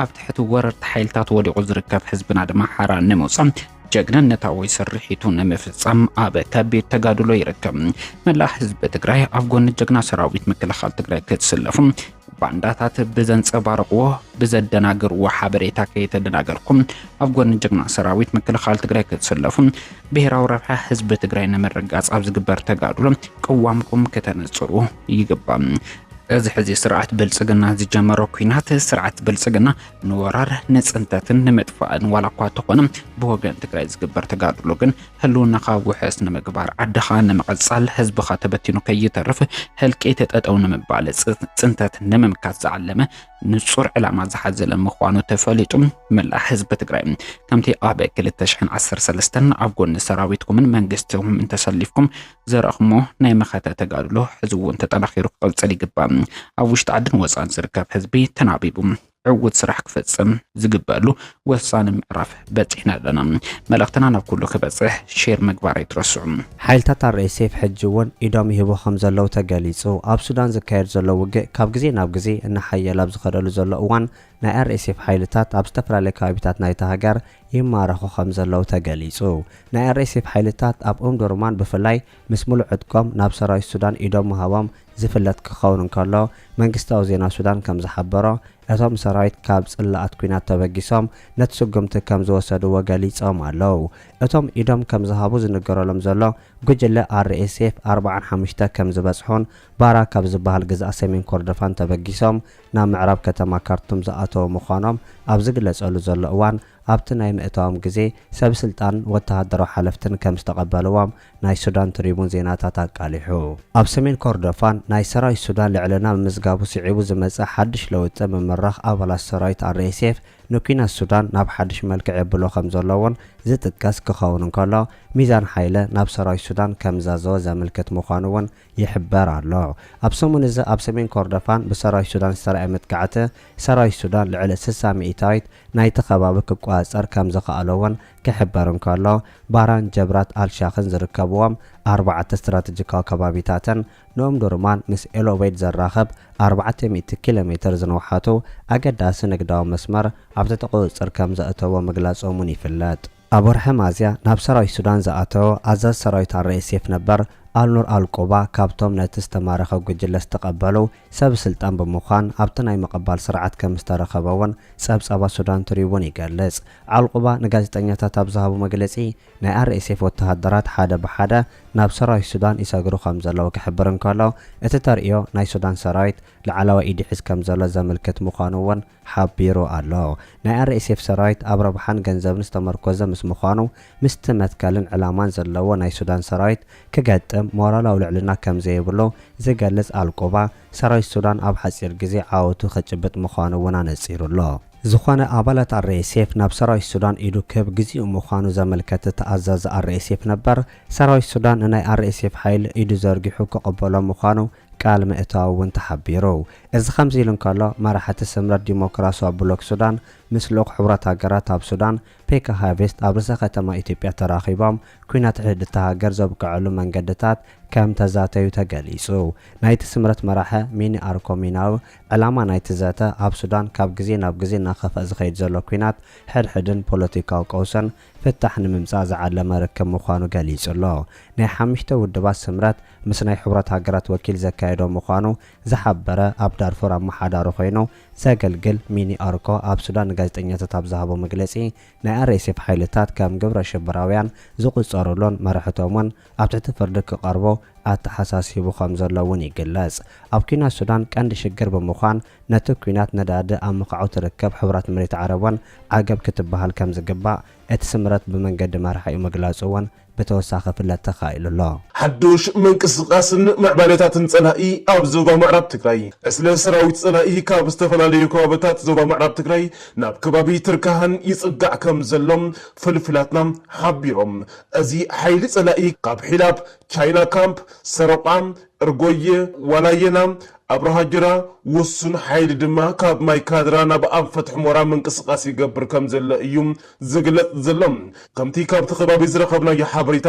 ኣብ ትሕቲ ወረርቲ ሓይልታት ወዲቑ ዝርከብ ህዝብና ድማ ሓራ ንምውፃእ ጀግንነታዊ ስርሒቱ ንምፍጻም ኣብ ከቢድ ተጋድሎ ይርከብ። መላእ ህዝቢ ትግራይ ኣብ ጎኒ ጀግና ሰራዊት ምክልኻል ትግራይ ክትስለፉ ባንዳታት ብዘንጸባርቕዎ ብዘደናግርዎ ሓበሬታ ከይተደናገርኩም ኣብ ጎኒ ጅግና ሰራዊት ምክልኻል ትግራይ ክትስለፉ ብሔራዊ ረብሓ ህዝቢ ትግራይ ንምርጋጽ ኣብ ዝግበር ተጋድሎ ቅዋምኩም ከተነጽሩ ይግባእ። እዚ ሕዚ ስርዓት ብልጽግና ዝጀመሮ ኩናት ስርዓት ብልጽግና ንወራር ንጽንተትን ንምጥፋእን ዋላ እኳ ተኾነ ብወገን ትግራይ ዝግበር ተጋድሎ ግን ህልውናኻ ውሕስ ንምግባር፣ ዓድኻ ንምቕፃል፣ ህዝብኻ ተበቲኑ ከይተርፍ፣ ህልቂት ጠጠው ንምባል፣ ፅንተት ንምምካት ዝዓለመ ንፁር ዕላማ ዝሓዘለ ምዃኑ ተፈሊጡ መላእ ህዝቢ ትግራይ ከምቲ ኣብ ክልተ ሽሕን ዓሰርተ ሰለስተን ኣብ ጎኒ ሰራዊትኩምን መንግስትኹምን ተሰሊፍኩም ዘረእኹሞ ናይ መኸተ ተጋድሎ ሕዚ እውን ተጠናኺሩ ክቕፅል ይግባእ። ኣብ ውሽጢ ዓድን ወፃእን ዝርከብ ህዝቢ ተናቢቡ ዕውት ስራሕ ክፈጽም ዝግበሉ ወሳኒ ምዕራፍ በጺሕና ኣለና። መልእኽትና ናብ ኩሉ ክበጽሕ ሼር ምግባር ኣይትረስዑ። ሓይልታት RSF ሕጂ እውን ኢዶም ይህቡ ከምዘለዉ ተገሊጹ። ኣብ ሱዳን ዝካየድ ዘሎ ውግእ ካብ ግዜ ናብ ግዜ እናሓየለ ኣብ ዝኸደሉ ዘሎ እዋን ናይ RSF ሓይልታት ኣብ ዝተፈላለየ ከባቢታት ናይታ ሃገር ይማረኹ ከምዘለዉ ተገሊጹ። ናይ RSF ሓይልታት ኣብ ኡምዱርማን ብፍላይ ምስ ምሉእ ዕጥቆም ናብ ሰራዊት ሱዳን ኢዶም ምሃቦም ዝፍለጥ ክኸውን እንከሎ፣ መንግስታዊ ዜና ሱዳን ከም ዝሓበሮ፣ እቶም ሰራዊት ካብ ጽላኣት ኲናት ተበጊሶም ነቲ ስጉምቲ ከም ዝወሰድዎ ገሊጾም ኣለው። እቶም ኢዶም ከም ዝሃቡ ዝንገረሎም ዘሎ ጉጅለ RSF ኣርብዓን ሓሙሽተ ከም ዝበጽሑን ባራ ካብ ዝበሃል ግዝኣት ሰሜን ኮርዶፋን ተበጊሶም ናብ ምዕራብ ከተማ ካርቱም ዝኣተው ምዃኖም ኣብ ዝግለጸሉ ዘሎ እዋን ኣብቲ ናይ ምእታዎም ግዜ ሰብስልጣንን ወተሃደራዊ ሓለፍትን ከም ዝተቐበልዎም ናይ ሱዳን ትሪቡን ዜናታት ኣቃሊሑ። ኣብ ሰሜን ኮርዶፋን ናይ ሰራዊት ሱዳን ልዕልና ምምዝጋቡ ስዒቡ ዝመጸ ሓድሽ ለውጢ ምምራኽ ኣባላት ሰራዊት RSF ንኲናት ሱዳን ናብ ሓድሽ መልክዕ የብሎ ከምዘሎ'ውን ዝጥቀስ ክኸውን እንከሎ ሚዛን ሓይለ ናብ ሰራዊት ሱዳን ከምዛዘወ ዘምልክት ምዃኑ'ውን ይሕበር ኣሎ። ኣብ ሰሙን እዚ ኣብ ሰሜን ኮርዶፋን ብሰራዊት ሱዳን ዝተራእየ መጥቃዕቲ ሰራዊት ሱዳን ልዕሊ ስሳ ሚኢታዊት ናይቲ ከባቢ ክቆጻጸር ከምዘኸኣሎ'ውን ክሕበር እንከሎ፣ ባራን ጀብራት ኣልሻኽን ዝርከብዎም ኣርባዕተ ስትራተጂካዊ ከባቢታትን ንኡምዱርማን ምስ ኤልኦበይድ ዘራኽብ ኣርባዕተ ሚእቲ ኪሎ ሜተር ዝንውሓቱ ኣገዳሲ ንግዳዊ መስመር ኣብ ትሕቲ ቁጽጽር ከም ዘእተዎ ምግላጾም'ውን ይፍለጥ። ኣብ ወርሒ ሚያዝያ ናብ ሰራዊት ሱዳን ዝኣተወ ኣዛዚ ሰራዊት ኣር-ኤስ-ኤፍ ነበር ኣልኑር ኣል-ቁባ ካብቶም ነቲ ዝተማረኸ ጉጅለ ዝተቐበሉ ሰብ ስልጣን ብምዃን ኣብቲ ናይ ምቕባል ስርዓት ከምዝተረኸበ እውን ጸብጻባት ሱዳን ትሪቡን ይገልጽ። ዓልቑባ ንጋዜጠኛታት ኣብ ዝሃቦ መግለጺ፣ ናይ ኣርኤስኤፍ ወተሃደራት ሓደ ብሓደ ናብ ሰራዊት ሱዳን ይሰግሩ ከምዘለዉ ክሕብር እንከሎ፣ እቲ ተርእዮ ናይ ሱዳን ሰራዊት ላዕለዋይ ኢዱ ይሕዝ ከምዘሎ ዘመልክት ምዃኑ እውን ሓቢሩ ኣሎ። ናይ ኣርኤስኤፍ ሰራዊት ኣብ ረብሓን ገንዘብን ዝተመርኮዘ ምስ ምዃኑ፣ ምስቲ መትከልን ዕላማን ዘለዎ ናይ ሱዳን ሰራዊት ክገጥም ሞራላዊ ልዕልና ከም ዘይብሉ ዝገልጽ ኣልቁባ፣ ሰራዊት ሱዳን ኣብ ሓጺር ግዜ ዓወቱ ከጭብጥ ምዃኑ እውን ኣነጺሩ ኣሎ። ዝኾነ ኣባላት ኣርኤስኤፍ ናብ ሰራዊት ሱዳን ኢዱ ክህብ ግዜኡ ምዃኑ ዘመልከተ እቲ ኣዛዚ ኣርኤስኤፍ ነበር፣ ሰራዊት ሱዳን ንናይ ኣርኤስኤፍ ሓይሊ ኢዱ ዘርጊሑ ክቕበሎ ምዃኑ ቃል ምእታዉ እዉን ተሓቢሩ። እዚ ከምዚ ኢሉ እንከሎ መራሕቲ ስምረት ዲሞክራስዋ ብሎክ ሱዳን ምስ ልኡኽ ሕቡራት ሃገራት ኣብ ሱዳን ፔካ ሃቬስት ኣብ ርእሰ ከተማ ኢትዮጵያ ተራኺቦም ኲናት ሕድእታ ሃገር ዘብቀዐሉ መንገድታት ከም ተዛተዩ ተገሊጹ። ናይቲ ስምረት መራሐ ሚኒ ኣርኮ ሚናዊ ዕላማ ናይቲ ዘተ ኣብ ሱዳን ካብ ግዜ ናብ ግዜ እናኸፍኣ ዝኸይድ ዘሎ ኲናት ሕድሕድን ፖለቲካዊ ቀውስን ፍታሕ ንምምፃእ ዝዓለመ ርክብ ምዃኑ ገሊፁ'ሎ። ናይ ሓሙሽተ ውድባት ስምረት ምስ ናይ ሕቡራት ሃገራት ወኪል ዘካየዶ ምዃኑ ዝሓበረ ኣብ ዳርፉር ኣመሓዳሪ ኮይኑ ዘገልግል ሚኒ ኣርኮ ኣብ ሱዳን ንጋዜጠኛታት ኣብ ዝሃቦ መግለፂ ናይ RSF ሓይልታት ከም ግብረ ሽበራውያን ዝቑፀሩሉን መራሕቶምን ኣብ ትሕቲ ፍርዲ ክቐርቡ ኣተሓሳሲቡ ከምዘሎ እውን ይግለጽ። ኣብ ኲናት ሱዳን ቀንዲ ሽግር ብምዃን ነቲ ኲናት ነዳዲ ኣብ ምኻዑ ትርከብ ሕቡራት መሬት ዓረብ እውን ዓገብ ክትበሃል ከምዝግባእ እቲ ስምረት ብመንገዲ መራሒኡ ምግላጹ እውን ብተወሳኺ ክፍለጥ ተኻኢሉ ኣሎ። ሓዱሽ ምንቅስቓስን ምዕባለታትን ፀላኢ ኣብ ዞባ ምዕራብ ትግራይ። ዕስለ ሰራዊት ፀላኢ ካብ ዝተፈላለዩ ከባብታት ዞባ ምዕራብ ትግራይ ናብ ከባቢ ትርካሃን ይፅጋዕ ከምዘሎ ፍልፍላትና ሓቢሮም። እዚ ሓይሊ ጸላኢ ካብ ሒላብ፣ ቻይና ካምፕ፣ ሰረቋ፣ እርጎየ፣ ዋላየና፣ ኣብርሃጅራ፣ ውሱን ሓይሊ ድማ ካብ ማይ ካድራ ናብ ኣንፈት ሑሞራ ምንቅስቓስ ይገብር ከምዘሎ እዩ ዝግለጽ ዘሎ። ከምቲ ካብቲ ከባቢ ዝረኸብናዮ ሓበሬታ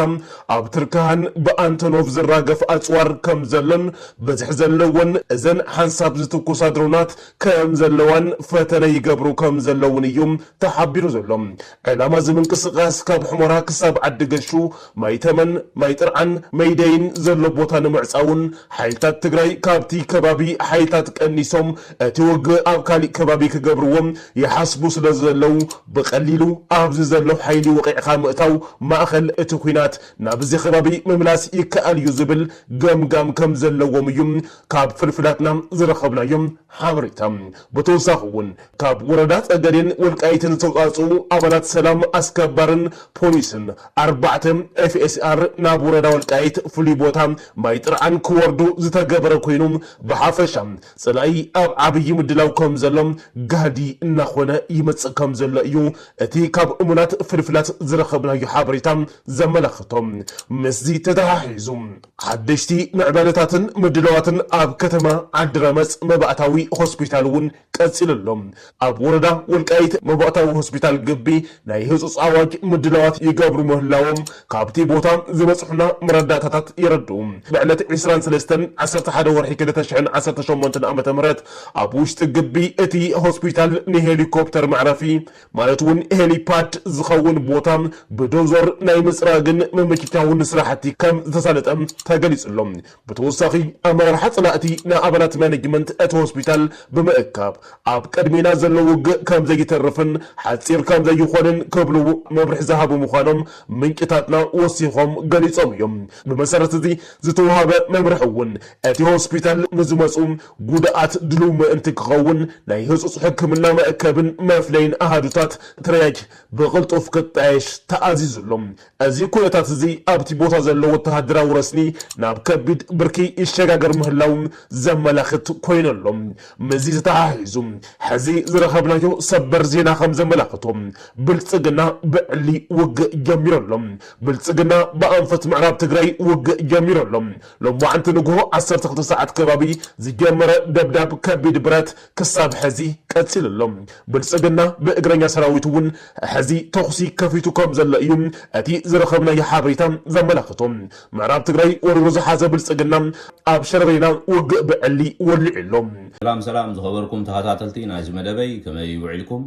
ኣብ ትርክሃን ብኣንቶኖቭ ዝራገፍ ኣጽዋር ከምዘሎን ብዝሒ ዘለወን እዘን ሓንሳብ ዝትኩሳ ድሮናት ከምዘለዋን ፈተነ ይገብሩ ከምዘለዉን እዩ ተሓቢሩ ዘሎ። ዕላማ እዚ ምንቅስቓስ ካብ ሑመራ ክሳብ ዓዲ ገሹ፣ ማይ ተመን፣ ማይ ጥርዓን፣ መይደይን ዘሎ ቦታ ንምዕፃውን ሓይልታት ትግራይ ካብቲ ከባቢ ሓይልታት ቀኒሶም እቲ ውግእ ኣብ ካሊእ ከባቢ ክገብርዎ ይሓስቡ ስለዘለው ብቐሊሉ ኣብዚ ዘሎ ሓይሊ ወቒዕኻ ምእታው ማእኸል እቲ ኹናት ናብዚ ከባቢ ምምላስ ይከኣል እዩ ዝብል ገምጋም ከምዘለዎም እዩ ካብ ፍልፍላትና ዝረኸብናዮ ሓበሬታ ብተወሳኺ እውን ካብ ወረዳ ፀገዴን ወልቃይትን ዝተውፃእፅኡ ኣባላት ሰላም ኣስከባርን ፖሊስን ኣርባዕተ FSR ናብ ወረዳ ወልቃይት ፍሉይ ቦታ ማይ ጥርዓን ክወርዱ ዝተገበረ ኮይኑ ብሓፈሻ ፀላኢ ኣብ ዓብዪ ምድላው ከምዘሎ ጋህዲ እናኾነ ይመፅእ ከምዘሎ እዩ እቲ ካብ እሙናት ፍልፍላት ዝረኸብናዮ ሓበሬታ ዘመላኽቶ። ምስዚ ተተሓሒዙ ሓደሽቲ ምዕባለታትን ምድላዋትን ኣብ ከተማ ዓዲረመፅ መባእታዊ ሆስፒታል እውን ቀፂሉ ኣሎ። ኣብ ወረዳ ወልቃይት መባእታዊ ሆስፒታል ግቢ ናይ ህፁፅ ኣዋጅ ምድላዋት ይገብሩ ምህላዎም ካብቲ ቦታ ዝበፅሑና መረዳእታታት የረድኡ። ብዕለት ዕስራን ሰለስተን ዓሰርተ ሓደ ወርሒ ክልተ ሽሕን ዓሰርተ ሸሞንተን ዓመተ ምህረት ኣብ ውሽጢ ግቢ እቲ ሆስፒታል ንሄሊኮፕተር መዕረፊ ማለት እውን ሄሊፓድ ዝኸውን ቦታ ብዶዞር ናይ ምፅራግን ምምችቻውን ስራሕቲ ከም ዝተሳለጠ ተገሊፁ ኣሎ። ብተወሳኺ ኣመራርሓ ፀላእቲ ንኣባላት ማኔጅመንት እቲ ሆስፒታል ብምእካብ ኣብ ቅድሜና ዘሎ ውግእ ከም ዘይተርፍን ሓፂር ከም ዘይኾንን ክብሉ መብርሒ ዝሃቡ ምዃኖም ምንጭታትና ወሲኾም ገሊፆም እዮም። ብመሰረት እዚ ዝተውሃበ መምርሒ እውን እቲ ሆስፒታል ንዝመፁ ጉድኣት ድሉው ምእንቲ ክኸውን ናይ ህጹጽ ሕክምና መእከብን መፍለይን ኣሃዱታት ትሪያጅ ብቕልጡፍ ክጣየሽ ተኣዚዙ ኣሎ። እዚ ኩነታት እዚ ኣብቲ ቦታ ዘሎ ወተሃደራዊ ረስኒ ናብ ከቢድ ብርኪ ይሸጋገር ምህላዉ ዘመላኽት ኮይኑ ኣሎ። ምስዚ ተተሓሒዙ ሕዚ ዝረኸብናዮ ሰበር ዜና ከም ዘመላኽቶ ብልጽግና ብዕሊ ውግእ ጀሚሩ ኣሎ። ብልጽግና ብኣንፈት ምዕራብ ትግራይ ውግእ ጀሚሩ ኣሎ። ሎማዕንቲ ንጉሆ ዓሰርተ ክልተ ሰዓት ከባቢ ዝጀመረ ደብዳብ ከቢድ ብረት ክሳብ ሐዚ ቀፂሉ ኣሎ። ብልፅግና ብእግረኛ ሰራዊቱ እውን ሐዚ ተኹሲ ከፊቱ ከም ዘሎ እዩ እቲ ዝረኸብናዮ ሓበሬታ ዘመላኽቶ። ምዕራብ ትግራይ ወሪሩ ዝሓዘ ብልፅግና ኣብ ሸረሪና ውግእ ብዕሊ ወሊዑ ኣሎ። ሰላም ሰላም ዝኸበርኩም ተኻታተልቲ ናይዚ መደበይ ከመይ ውዒልኩም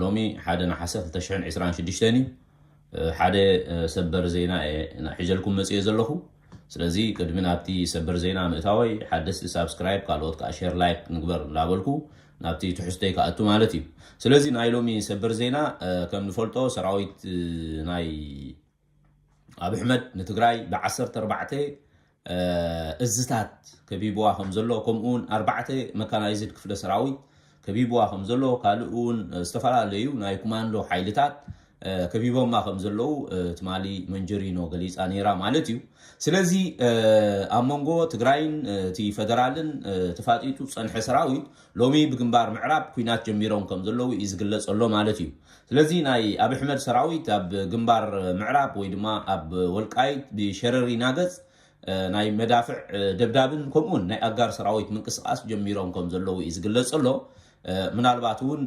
ሎሚ ሓደ ነሓሰ ክልተ ሽሕን ዕስራን ሽዱሽተን እዩ ሓደ ሰበር ዜና እየ ሒዘልኩም መጺኤ ዘለኹ ስለዚ ቅድሚ ናብቲ ሰበር ዜና ምእታወይ ሓደስቲ ሳብስክራይብ ካልኦት ከኣ ሼር ላይክ ንግበር እንዳበልኩ ናብቲ ትሕዝቶይ ክኣቱ ማለት እዩ ስለዚ ናይ ሎሚ ሰበር ዜና ከም ንፈልጦ ሰራዊት ናይ ኣብ ኣሕመድ ንትግራይ ብ14 እዝታት ከቢብዋ ከምዘሎ ከምኡ ውን ኣርባዕተ መካናይዝድ ክፍለ ሰራዊት ከቢብዋ ከምዘሎ ካልእ ውን ዝተፈላለዩ ናይ ኩማንዶ ሓይልታት ከቢቦማ ከም ዘለዉ ትማሊ መንጀሪኖ ገሊፃ ነይራ ማለት እዩ ስለዚ ኣብ መንጎ ትግራይን እቲ ፈደራልን ተፋጢጡ ዝፀንሐ ሰራዊት ሎሚ ብግንባር ምዕራብ ኩናት ጀሚሮም ከም ዘለዉ እዩ ዝግለጽ ዘሎ ማለት እዩ። ስለዚ ናይ ኣቢ ኣሕመድ ሰራዊት ኣብ ግንባር ምዕራብ ወይ ድማ ኣብ ወልቃይት ብሸረሪ ናገጽ ናይ መዳፍዕ ደብዳብን ከምኡውን ናይ ኣጋር ሰራዊት ምንቅስቃስ ጀሚሮም ከም ዘለዉ እዩ ዝግለጽ ዘሎ። ምናልባት እውን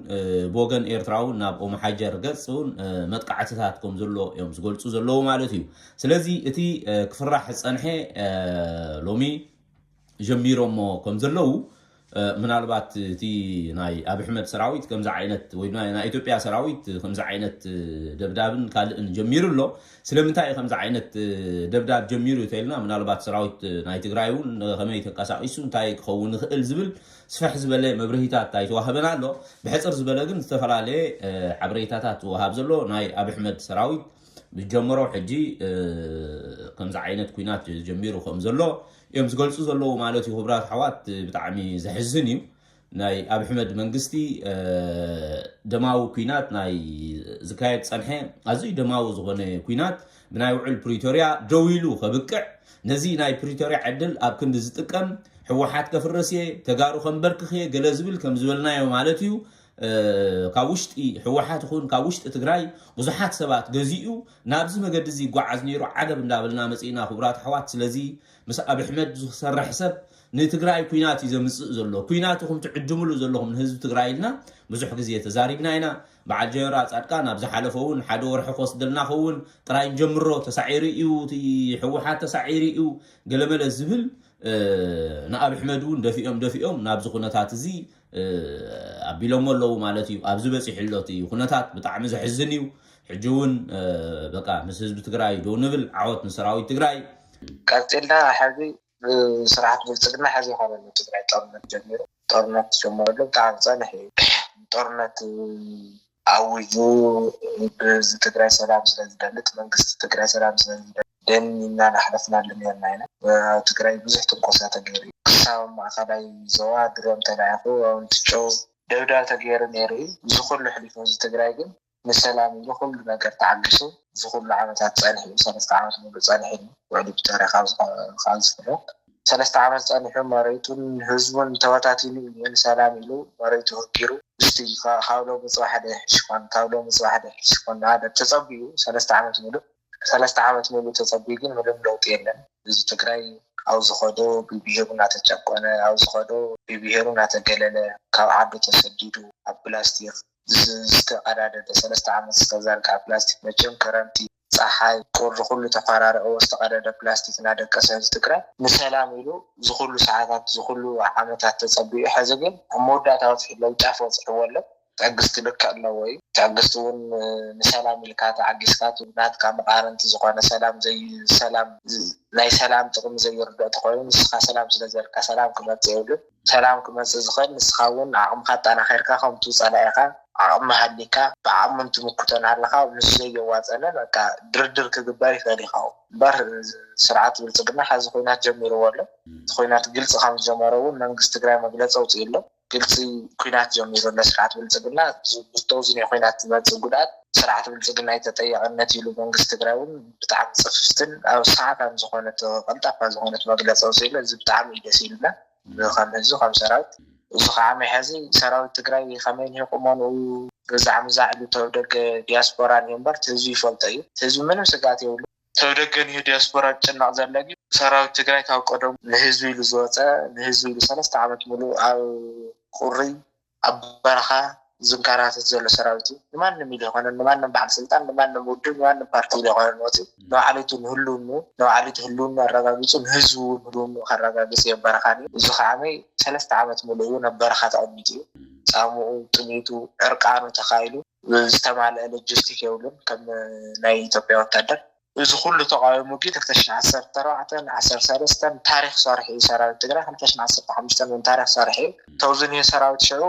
ብወገን ኤርትራ እውን ናብ ኦመሓጀር ገጽ እውን መጥቃዕትታት ከም ዘሎ እዮም ዝገልጹ ዘለዉ ማለት እዩ። ስለዚ እቲ ክፍራሕ ዝጸንሐ ሎሚ ጀሚሮሞ ከም ዘለዉ ምናልባት እቲ ናይ ኣብ ኣሕመድ ሰራዊት ከምዚ ዓይነት ወይ ድማ ናይ ኢትዮጵያ ሰራዊት ከምዚ ዓይነት ደብዳብን ካልእን ጀሚሩ ኣሎ ስለምንታይ እዩ ከምዚ ዓይነት ደብዳብ ጀሚሩ ተልና ምናልባት ሰራዊት ናይ ትግራይ እውን ከመይ ተንቀሳቂሱ እንታይ ክኸውን ይኽእል ዝብል ስፈሕ ዝበለ መብርሂታት ኣይተዋህበን ኣሎ ብሕፅር ዝበለ ግን ዝተፈላለየ ሓበሬታታት ዝወሃብ ዘሎ ናይ ኣብ ኣሕመድ ሰራዊት ምስ ጀመሮ ሕጂ ከምዚ ዓይነት ኩናት ጀሚሩ ከም ዘሎ እዮም ዝገልጹ ዘለዉ ማለት እዩ ክብራት ኣሕዋት ብጣዕሚ ዘሕዝን እዩ ናይ ኣብ ሕመድ መንግስቲ ደማዊ ኩናት ናይ ዝካየድ ጸንሐ ኣዝዩ ደማዊ ዝኾነ ኩናት ብናይ ውዕል ፕሪቶርያ ደው ኢሉ ከብቅዕ ነዚ ናይ ፕሪቶርያ ዕድል ኣብ ክንዲ ዝጥቀም ሕወሓት ከፍርስ እየ ተጋሩ ከንበርክኽ እየ ገለ ዝብል ከም ዝበልናዮ ማለት እዩ ካብ ውሽጢ ሕወሓት ይኹን ካብ ውሽጢ ትግራይ ብዙሓት ሰባት ገዚኡ ናብዚ መገዲ እዚ ይጓዓዝ ነይሩ ዓገብ እንዳበልና መፂእና ክቡራት ኣሕዋት ስለዚ ምስ ኣብ ኣሕመድ ዝሰርሕ ሰብ ንትግራይ ኩናት እዩ ዘምፅእ ዘሎ ኩናት ኢኹም ትዕድምሉ ዘለኹም ንህዝቢ ትግራይ ኢልና ብዙሕ ግዜ ተዛሪብና ኢና በዓል ጀነራ ፃድቃን ኣብ ዝሓለፈ እውን ሓደ ወርሒ ክወስደልና ኸውን ጥራይ ንጀምሮ ተሳዒሩ እዩ ሕወሓት ተሳዒሩ እዩ ገለመለ ዝብል ንኣብ ኣሕመድ እውን ደፊኦም ደፊኦም ናብዚ ኩነታት እዚ ኣቢሎሞ ኣለዉ ማለት እዩ ኣብዚ በፂሑ ኣሎ እቲ ኩነታት ብጣዕሚ ዘሕዝን እዩ ሕጂ እውን በቃ ምስ ህዝቢ ትግራይ ዶ ንብል ዓወት ንሰራዊት ትግራይ ቀፂልና ሕዚ ብስርዓት ብልፅግና ሕዚ ይኮነሉ ትግራይ ጦርነት ጀሚሩ ጦርነት ዝጀመረሉ ብጣዕሚ ፀንሕ እዩ ጦርነት ኣዊጁ ብህዝቢ ትግራይ ሰላም ስለ ዝደሊ እቲ መንግስቲ ትግራይ ሰላም ስለ ዝደሊ ደን ኢልና እናሕለፍናሉ ኔርና ኢና ኣብ ትግራይ ብዙሕ ትንኮሳ ተገይሩ እዩ ክሳብ ኣብ ማእኸላይ ዞባ ድሮን ተላኢኹ ኣብ እንትጮው ደብዳብ ተገይሩ ኔሩ እዩ እዚ ኹሉ ኣሕሊፉ ህዝቢ ትግራይ ግን ንሰላም ኢሉ ኹሉ ነገር ተዓጊሱ እዚ ኹሉ ዓመታት ፀኒሑ እዩ ሰለስተ ዓመት ሙሉእ ፀኒሑ እዩ ውዕሊ ፕሪቶርያ ካብ ዝፍረም። ሰለስተ ዓመት ጸኒሑ መሬቱን ህዝቡን ተበታቲኑ ኢዩ ንሰላም ኢሉ መሬቱ ህጊሩ። እስቲ ካብ ሎሚ ጽባሕ ዶ ይሕሽ ኮን ካብ ሎሚ ጽባሕ ዶ ይሕሽ ኮን ንሃገር ተጸቢዩ ሰለስተ ዓመት ምሉእ ሰለስተ ዓመት ምሉእ ተጸቢዩ ግን ምንም ለውጢ የለን። ህዝቢ ትግራይ ኣብ ዝኸዶ ብብሄሩ እናተጨቆነ ኣብ ዝኸዶ ብብሄሩ እናተገለለ ካብ ዓዱ ተሰዲዱ ኣብ ፕላስቲክ ዝተቀዳደደ ሰለስተ ዓመት ዝተዘርግሐ ፕላስቲክ መቸም ክረምቲ፣ ጸሓይ፣ ቁሪ ኩሉ ተፋራሪቕዎ ዝተቐደደ ፕላስቲክ እናደቀሰ ህዝቢ ትግራይ ንሰላም ኢሉ ዝኹሉ ሰዓታት ዝኹሉ ዓመታት ተጸቢዩ ሕዚ ግን ኣብ መወዳእታ በጺሑ ሎሚ ጫፍ በጺሕዎ ኣሎ። ትዕግስቲ ልክዕ ኣለዎ እዩ። ትዕግስቲ እውን ንሰላም ኢልካ ተዓጊስካ እቲ ናትካ መቓርንቲ ዝኾነ ሰላም ዘይ ሰላም ናይ ሰላም ጥቕሚ ዘይርድኦ ተኾይኑ ንስኻ ሰላም ስለዘልካ ሰላም ክመጽእ የብሉን። ሰላም ክመጽእ ዝኽእል ንስኻ ውን ዓቕምኻ ኣጣናኺርካ ከምቱ ጸላኢኻ ዓቕሚ ሃልይካ ብዓቕሙን ትምክቶ ናሃለኻ ምስ ዘየዋጸለ በቃ ድርድር ክግበር ይኽእል ኢኻ እምበር ስርዓት ብልጽግና ሐዚ ኹናት ጀሚርዎ ኣሎ እቲ ኹናት ግልጺ ከምዝጀመሮ ውን መንግስቲ ትግራይ መግለጺ ኣውጺኡ ኣሎ ግልጺ ኹናት ጀሚሩ ኣሎ ስርዓት ብልጽግና ዝብዝቶ ዙይ ናይ ኹናት ዝመጽእ ጉድኣት ስርዓት ብልጽግና ዩ ተጠያቕነት ኢሉ መንግስቲ ትግራይ ውን ብጣዕሚ ጽፍፍትን ኣብ ሰዓታን ዝኾነት ቀልጣፋ ዝኾነት መግለጺ ኣውጺእሉ እዚ ብጣዕሚ እዩ ደስ ኢሉና ከም ህዝቢ ከም ሰራዊት እዚ ካዓ ናይ ሐዚ ሰራዊት ትግራይ ከመይ እኒሀ ቁመንኡ ግዛዕ ምዛዕ ኢሉ ተብ ደገ ዲያስፖራ እኒሀ እምበር እቲ ህዝቢ ይፈልጦ እዩ እቲ ህዝቢ ምንም ስግኣት የብሉን ተብ ደገ እኒሀ ዲያስፖራ ዝጭነቅ ዘሎ ግን ሰራዊት ትግራይ ካብ ቀደሙ ንህዝቢ ኢሉ ዝወፀ ንህዝቢ ኢሉ ሰለስተ ዓመት ሙሉእ ኣብ ቁሪ ኣብ በረኻ ዝንካራተት ዘሎ ሰራዊት እዩ። ንማንም ኢሉ ኣይኮነን፣ ንማንም በዓል ስልጣን፣ ንማንም ውድብ፣ ንማንም ፓርቲ ኢሉ ኣይኮነን ወፂኡ። ንባዕሉ'ቲ ንህልውንኡ፣ ንባዕሉ'ቲ ህልውንኡ ኣረጋጊፁ ንህዝቡ እውን ህልውንኡ ከረጋግፅ እዩ ኣብ በረኻ ነይሩ። እዚ ከዓ ዓመይ ሰለስተ ዓመት ሙሉእ እውን ኣብ በረኻ ተቐሚጡ እዩ። ፃምኡ፣ ጥሜቱ፣ ዕርቃኑ ተኻኢሉ። ዝተማለኣ ሎጂስቲክ የብሉን ከም ናይ ኢትዮጵያ ወታደር። እዚ ኩሉ ተቃዊሙ ግን ክልተ ሽሕ ዓሰርተ ኣርባዕተ ን ዓሰርተ ሰለስተን ታሪክ ሰሪሑ እዩ ሰራዊት ትግራይ ክልተ ሽሕ ዓሰርተ ሓሙሽተ ን ታሪክ ሰሪሑ እዩ ተውዚ ን ሰራዊት ሽዑ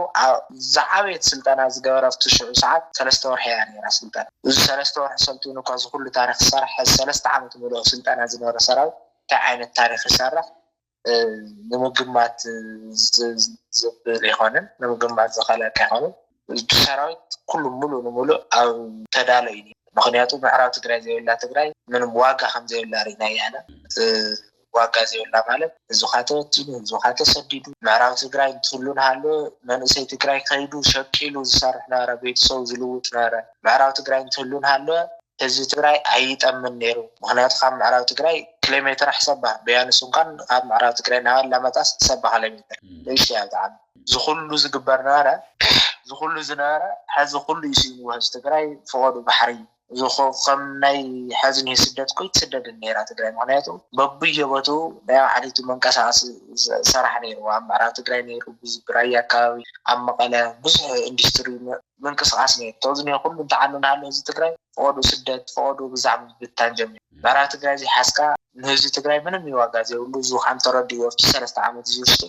ዝዓበየት ስልጠና ዝገበረ ኣብቲ ሽዑ ሰዓት ሰለስተ ወርሒ እያ ነይራ ስልጠና እዚ ሰለስተ ወርሒ ሰልጢኑ እኳ እዚ ኩሉ ታሪክ ዝሰረሐ ሕዚ ሰለስተ ዓመት ሙሉእ ኣብ ስልጠና ዝነበረ ሰራዊት እንታይ ዓይነት ታሪክ ይሰርሕ ንምግማት ዘብል ኣይኮነን ንምግማት ዝኸለካ ኣይኮነን ሰራዊት ኩሉ ሙሉ ንሙሉእ ኣብ ተዳሎ እዩ ነይሩ ምኽንያቱ ምዕራብ ትግራይ ዘይብላ ትግራይ ምንም ዋጋ ከም ዘይብላ ርኢናያ ኢና ዋጋ ዘይብላ ማለት ህዝብኻ ተወቲኑ ህዝብኻ ተሰዲዱ ምዕራብ ትግራይ እንትህሉ ንሃሎ መንእሰይ ትግራይ ከይዱ ሸቂሉ ዝሰርሕ ነበረ ቤተሰቡ ዝልውጥ ነበረ ምዕራብ ትግራይ እንትህሉ እንሃለወ ህዝቢ ትግራይ ኣይጠምን ነይሩ ምኽንያቱ ካብ ምዕራብ ትግራይ ክሌሜትር ኣሕሰባ በያኑ ስንኳን ካብ ምዕራብ ትግራይ ናብ ኣላማጣስ ሰባ ክሌሜትር ንእሽተያ ብጣዕሚ ዝኹሉ ዝግበር ነበረ ዝኹሉ ዝነበረ ሐዚ ኩሉ እዩ ስኢንዎ ህዝቢ ትግራይ ፍቆዱ ባሕሪ ዝኹ ከም ናይ ሐዚ ኒሆ ስደት ኮይትስደድን ነይራ ትግራይ ምኽንያቱ በብዮ ቦትኡ ናይ ባዕሊቱ መንቀሳቀሲ ሰራሕ ነይርዋ ኣብ ምዕራብ ትግራይ ነይሩ ብራያ ኣካባቢ ኣብ መቀለ ብዙሕ ኢንዲስትሪ ምንቅስቃስ ኔቶ እዚ ኔኩሉ እንተዓኑ እንሃሎ ህዝቢ ትግራይ ፍቀዱ ስደት ፍቀዱ ግዛዕ ምብታን ጀሚሩ ናራ ትግራይ ዘይሓዝካ ንህዝቢ ትግራይ ምንም እዩ ዋጋ ዘይብሉ እዙ ካም ተረዲኡ ኣብቲ ሰለስተ ዓመት እዚ ውሽጢ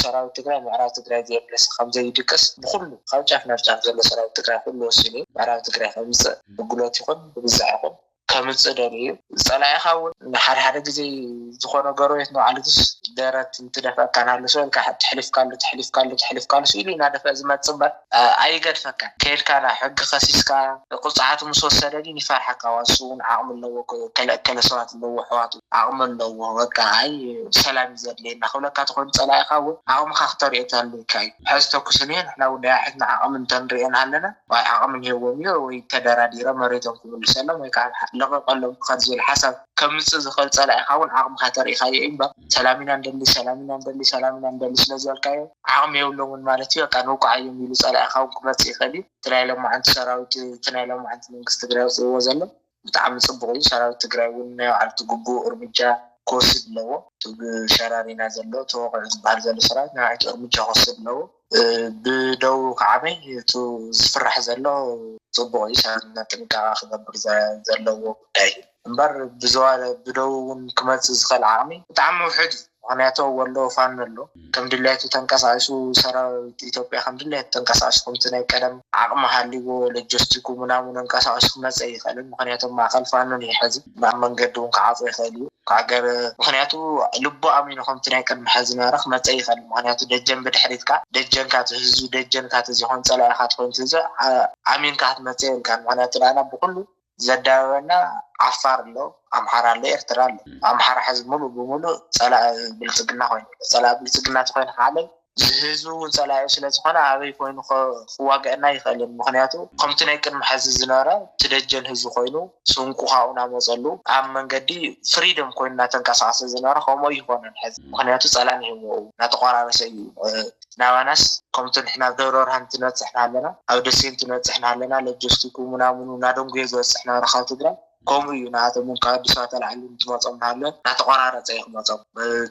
ሰራዊት ትግራይ ምዕራብ ትግራይ ዘየምለሰ ከምዘይድቅስ ብኩሉ ካብ ጫፍ ናብ ጫፍ ዘሎ ሰራዊት ትግራይ ኩሉ ወሲኑ እዩ ምዕራብ ትግራይ ከምፅእ ብግሎት ይኩን ብግዛዕ ይኩን ከምጽእ ደልዩ እዩ። ዝጸላኢኻ እውን ንሓደ ሓደ ግዜ ዝኾነ ጎረቤት ንባዕሉስ ደረት እንትደፍኣካ ንሃልሶ ኢልካ ተሕሊፍካሉ ተሕሊፍካሉ ተሕሊፍካሉ ስኢኑ እዩ እናደፍኣ ዝመጽእ እምበር ኣይገድፈካን። ከይድካ ናብ ሕጊ ከሲስካ ቅጽዓቱ ምስ ወሰደ ግን ይፈርሓካ ዋላ ንሱ እውን ዓቕሚ ኣለዎ ገለ እከለ ሰባት ኣለውዎ ኣሕዋቱ ዓቕሚ ኣለውዎ በቃ ኣይ ሰላም እዩ ዘድልየና ክብለካ ተኾይኑ ጸላኢኻ እውን ዓቕምኻ ክተርእዮ ተልይካ እዩ። ሕዚ ተኩስ እንሄ ንሕና እውን ናይ ኣሕትና ዓቕሚ እንተንርእዮ ንሃለና ወይ ዓቕሚ እንሄዎም እዩ ወይ ተደራዲሮም መሬቶም ክምልሰሎም ወይ ከዓ ልቐቐሎም ክኸድ ዝብል ሓሳብ ከምፅእ ዝኽእል ፀላኢኻ እውን ዓቕምኻ ተሪኢኻዮ እዩ እምበር ሰላም ኢና ንደሊ ሰላም ኢና ንደሊ ሰላም ኢና ንደሊ ስለዝበልካዮ ዓቕሚ የብሎምን ማለት እዩ በቃ ንውቃዓዮም ኢሉ ፀላኢኻ እውን ክመፅእ ይኽእል እዩ እቲ ናይ ሎማዓንቲ ሰራዊት እቲ ናይ ሎማዓንቲ መንግስቲ ትግራይ ወፂእዎ ዘሎ ብጣዕሚ ፅቡቕ እዩ ሰራዊት ትግራይ እውን ናይ ባዕሉ እቲ ግቡእ እርምጃ ክወስድ ኣለዎ እቲ ብሸራሪና ዘሎ ተወቒዑ ዝበሃል ዘሎ ሰራዊት ነባዒቱ እርምጃ ክወስድ ኣለዎ። ብደዉ ክዓበይ እቱ ዝፍራሕ ዘሎ ፅቡቅ እዩ ሰባት ድማ ጥንቃቀ ክገብር ዘለዎ ጉዳይ እዩ እምበር ብደዉ እውን ክመፅእ ዝኽእል ዓቅሚ ብጣዕሚ ውሕድ እዩ ምክንያቱ ወሎ ፋኖ ኣሎ ከም ድላይቱ ተንቀሳቂሱ ሰራዊት ኢትዮጵያ ከም ድላይቱ ተንቀሳቂሱ ከምቲ ናይ ቀደም ዓቅሚ ሃልይዎ ለጀስቲኩ ምናምን ኣንቀሳቂሱ ክመፅእ ኣይኽእልን ምክንያቱ ኣብ ማእከል ፋኖ እዩ ሐዚ ናብ መንገዲ ውን ክዓጾ ይክእል እዩ ክኣገር ምክንያቱ ልቡ ኣሚኑ ከምቲ ናይ ቅድሚ ሐዚ ዝነበረ ክመጸእ ይክእል ምክንያቱ ደጀን ብድሕሪትካ ደጀንካ ትህዙ ደጀንካ ተዘይኮይኑ ጸላኢካ ተኮይኑ ትህዙ ኣሚንካ ክትመጽእ የብልካን ምክንያቱ ናዓና ብኩሉ ዘዳብበና ዓፋር ኣሎ ኣምሓራ ኣሎ ኤርትራ ኣሎ ኣምሓራ ሐዚ ሙሉእ ብሙሉእ ጸላኢ ብልጽግና ኮይኑ ኣሎ ጸላኢ ብልጽግና ተኮይንካ ዓለም ህዝቢ ውን ጸላኢኡ ስለ ዝኾነ ኣበይ ኮይኑ ክዋገኣና ኣይክእልን ምኽንያቱ ከምቲ ናይ ቅድሚ ሐዚ ዝነበረ እቲ ደጀን ህዝቢ ኮይኑ ስንቁ ካብኡ ናመጸሉ ኣብ መንገዲ ፍሪደም ኮይኑ ናተንቀሳቀሰ ዝነበረ ከምኡ ኣይኾነን ሐዚ ምኽንያቱ ጸላእና ሂወኡ ናተቆራረሰ እዩ ናባናስ ከምቲ ንሕና ኣብ ደብረብርሃን እንትንበጽሕ ናሃለና ኣብ ደሴ እንትንበጽሕ ናሃለና ለጆስቲኩ ምናምኑ ናደንጉየ ዝበጽሕ ነበረ ካብ ትግራይ ከምኡ እዩ ንኣቶም እውን ካብ ኣዲስ ኣበባ ተላዒሎም እንትመፅኦም ንሃሎ እናተቆራረፀ እዩ ክመፆም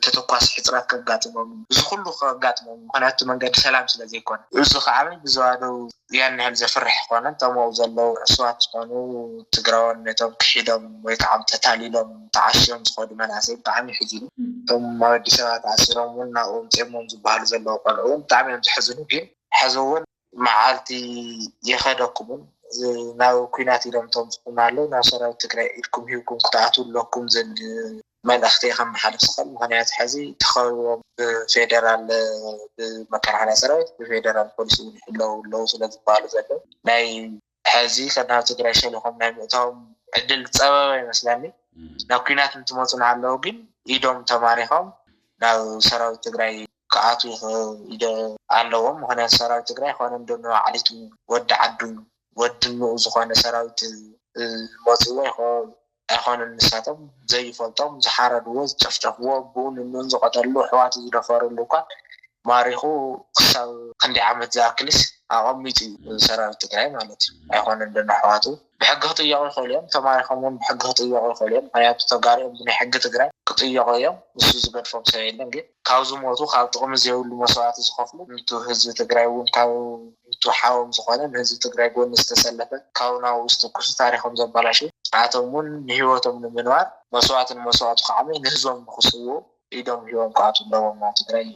ተተኳሲ ሕፅረት ከጋጥሞም እዩ እዚ ኩሉ ከጋጥሞም እዩ ምክንያቱ እቲ መንገዲ ሰላም ስለ ዘይኮነ እዚ ከዓኒ ብዞባ ደቡብ ያን ያህል ዘፍርሕ ኣይኮነን እቶም ኣብኡ ዘለዉ ዕሱባት ዝኮኑ ትግራዎን ነቶም ክሒዶም ወይ ከዓ ተታሊሎም ተዓሽዮም ዝከዱ መናእሰይ ብጣዕሚ የሕዝኑ እቶም ኣብ ኣዲስ ኣበባ ተኣሲሮም እውን ናብኡ ኣምፂኦሞም ዝባሃሉ ዘለዉ ቆልዑ እውን ብጣዕሚ እዮም ዘሕዝኑ ግን ሐዚ እውን መዓልቲ የኸደኩምን ናብ ኩናት ኢሎም ተምፅኡና ኣለው ናብ ሰራዊት ትግራይ ኢድኩም ሂብኩም ክትኣትው ኣለኩም ዝብል መልእኽቲ ከመሓልፍ ዝኽእል ምክንያት ሕዚ ተኸቢቦም ብፌደራል ብመከላኸልያ ሰራዊት ብፌደራል ፖሊስ እውን ይሕለው ኣለው ስለዝበሃሉ ዘለው ናይ ሐዚ ከ ናብ ትግራይ ሸሊኹም ናይ ምእታዎም ዕድል ዝፀበበ ይመስለኒ። ናብ ኲናት እንትመፁ እናሃለዉ ግን ኢዶም ተማሪኾም ናብ ሰራዊት ትግራይ ክኣትዉ ይኽእሉ ኢደ ኣለዎም። ምኽንያቱ ሰራዊት ትግራይ ኾነ እንዶ ንባዕሊቱ ወዲ ዓዱ ወዲ እኖኡ ዝኾነ ሰራዊት መፂእዎ ኣይኮነን። ኣይኮነን ንሳቶም ዘይፈልጦም ዝሓረድዎ ዝጨፍጨፍዎ ኣቡኡ ንኑን ዝቀተልሉ ኣሕዋቱ ዝደፈርሉ እኳ ማሪኹ ክሳብ ክንደይ ዓመት ዝኣክልስ ኣቀሚጡ እዩ ንሰራዊት ትግራይ ማለት እዩ ኣይኮነን ዶ ንኣሕዋቱ ብሕጊ ክጥየቁ ይኽእሉ እዮም ተማሪኾም ውን ብሕጊ ክጥየቁ ይኽእሉ እዮም ምክንያቱ ተጋሩኦም ብናይ ሕጊ ትግራይ ክጥየቁ እዮም ንሱ ዝገድፎም ሰብ የለን ግን ካብ ዝሞቱ ካብ ጥቅሚ ዘይብሉ መስዋእቲ ዝኸፍሉ ንቱ ህዝቢ ትግራይ ውን ካብ ቡቱ ሓዎም ዝኾነ ንህዝቢ ትግራይ ጎኒ ዝተሰለፈ ካውና ውስጥ ኩሱ ታሪኾም ዘባላሽው ንኣቶም ውን ንሂወቶም ንምንባር መስዋእቲ ንመስዋእቱ ክዓምይ ንህዝቦም ንክስውኡ ኢዶም ሂቦም ክኣትው ኣለዎም ናብ ትግራይ ይብል።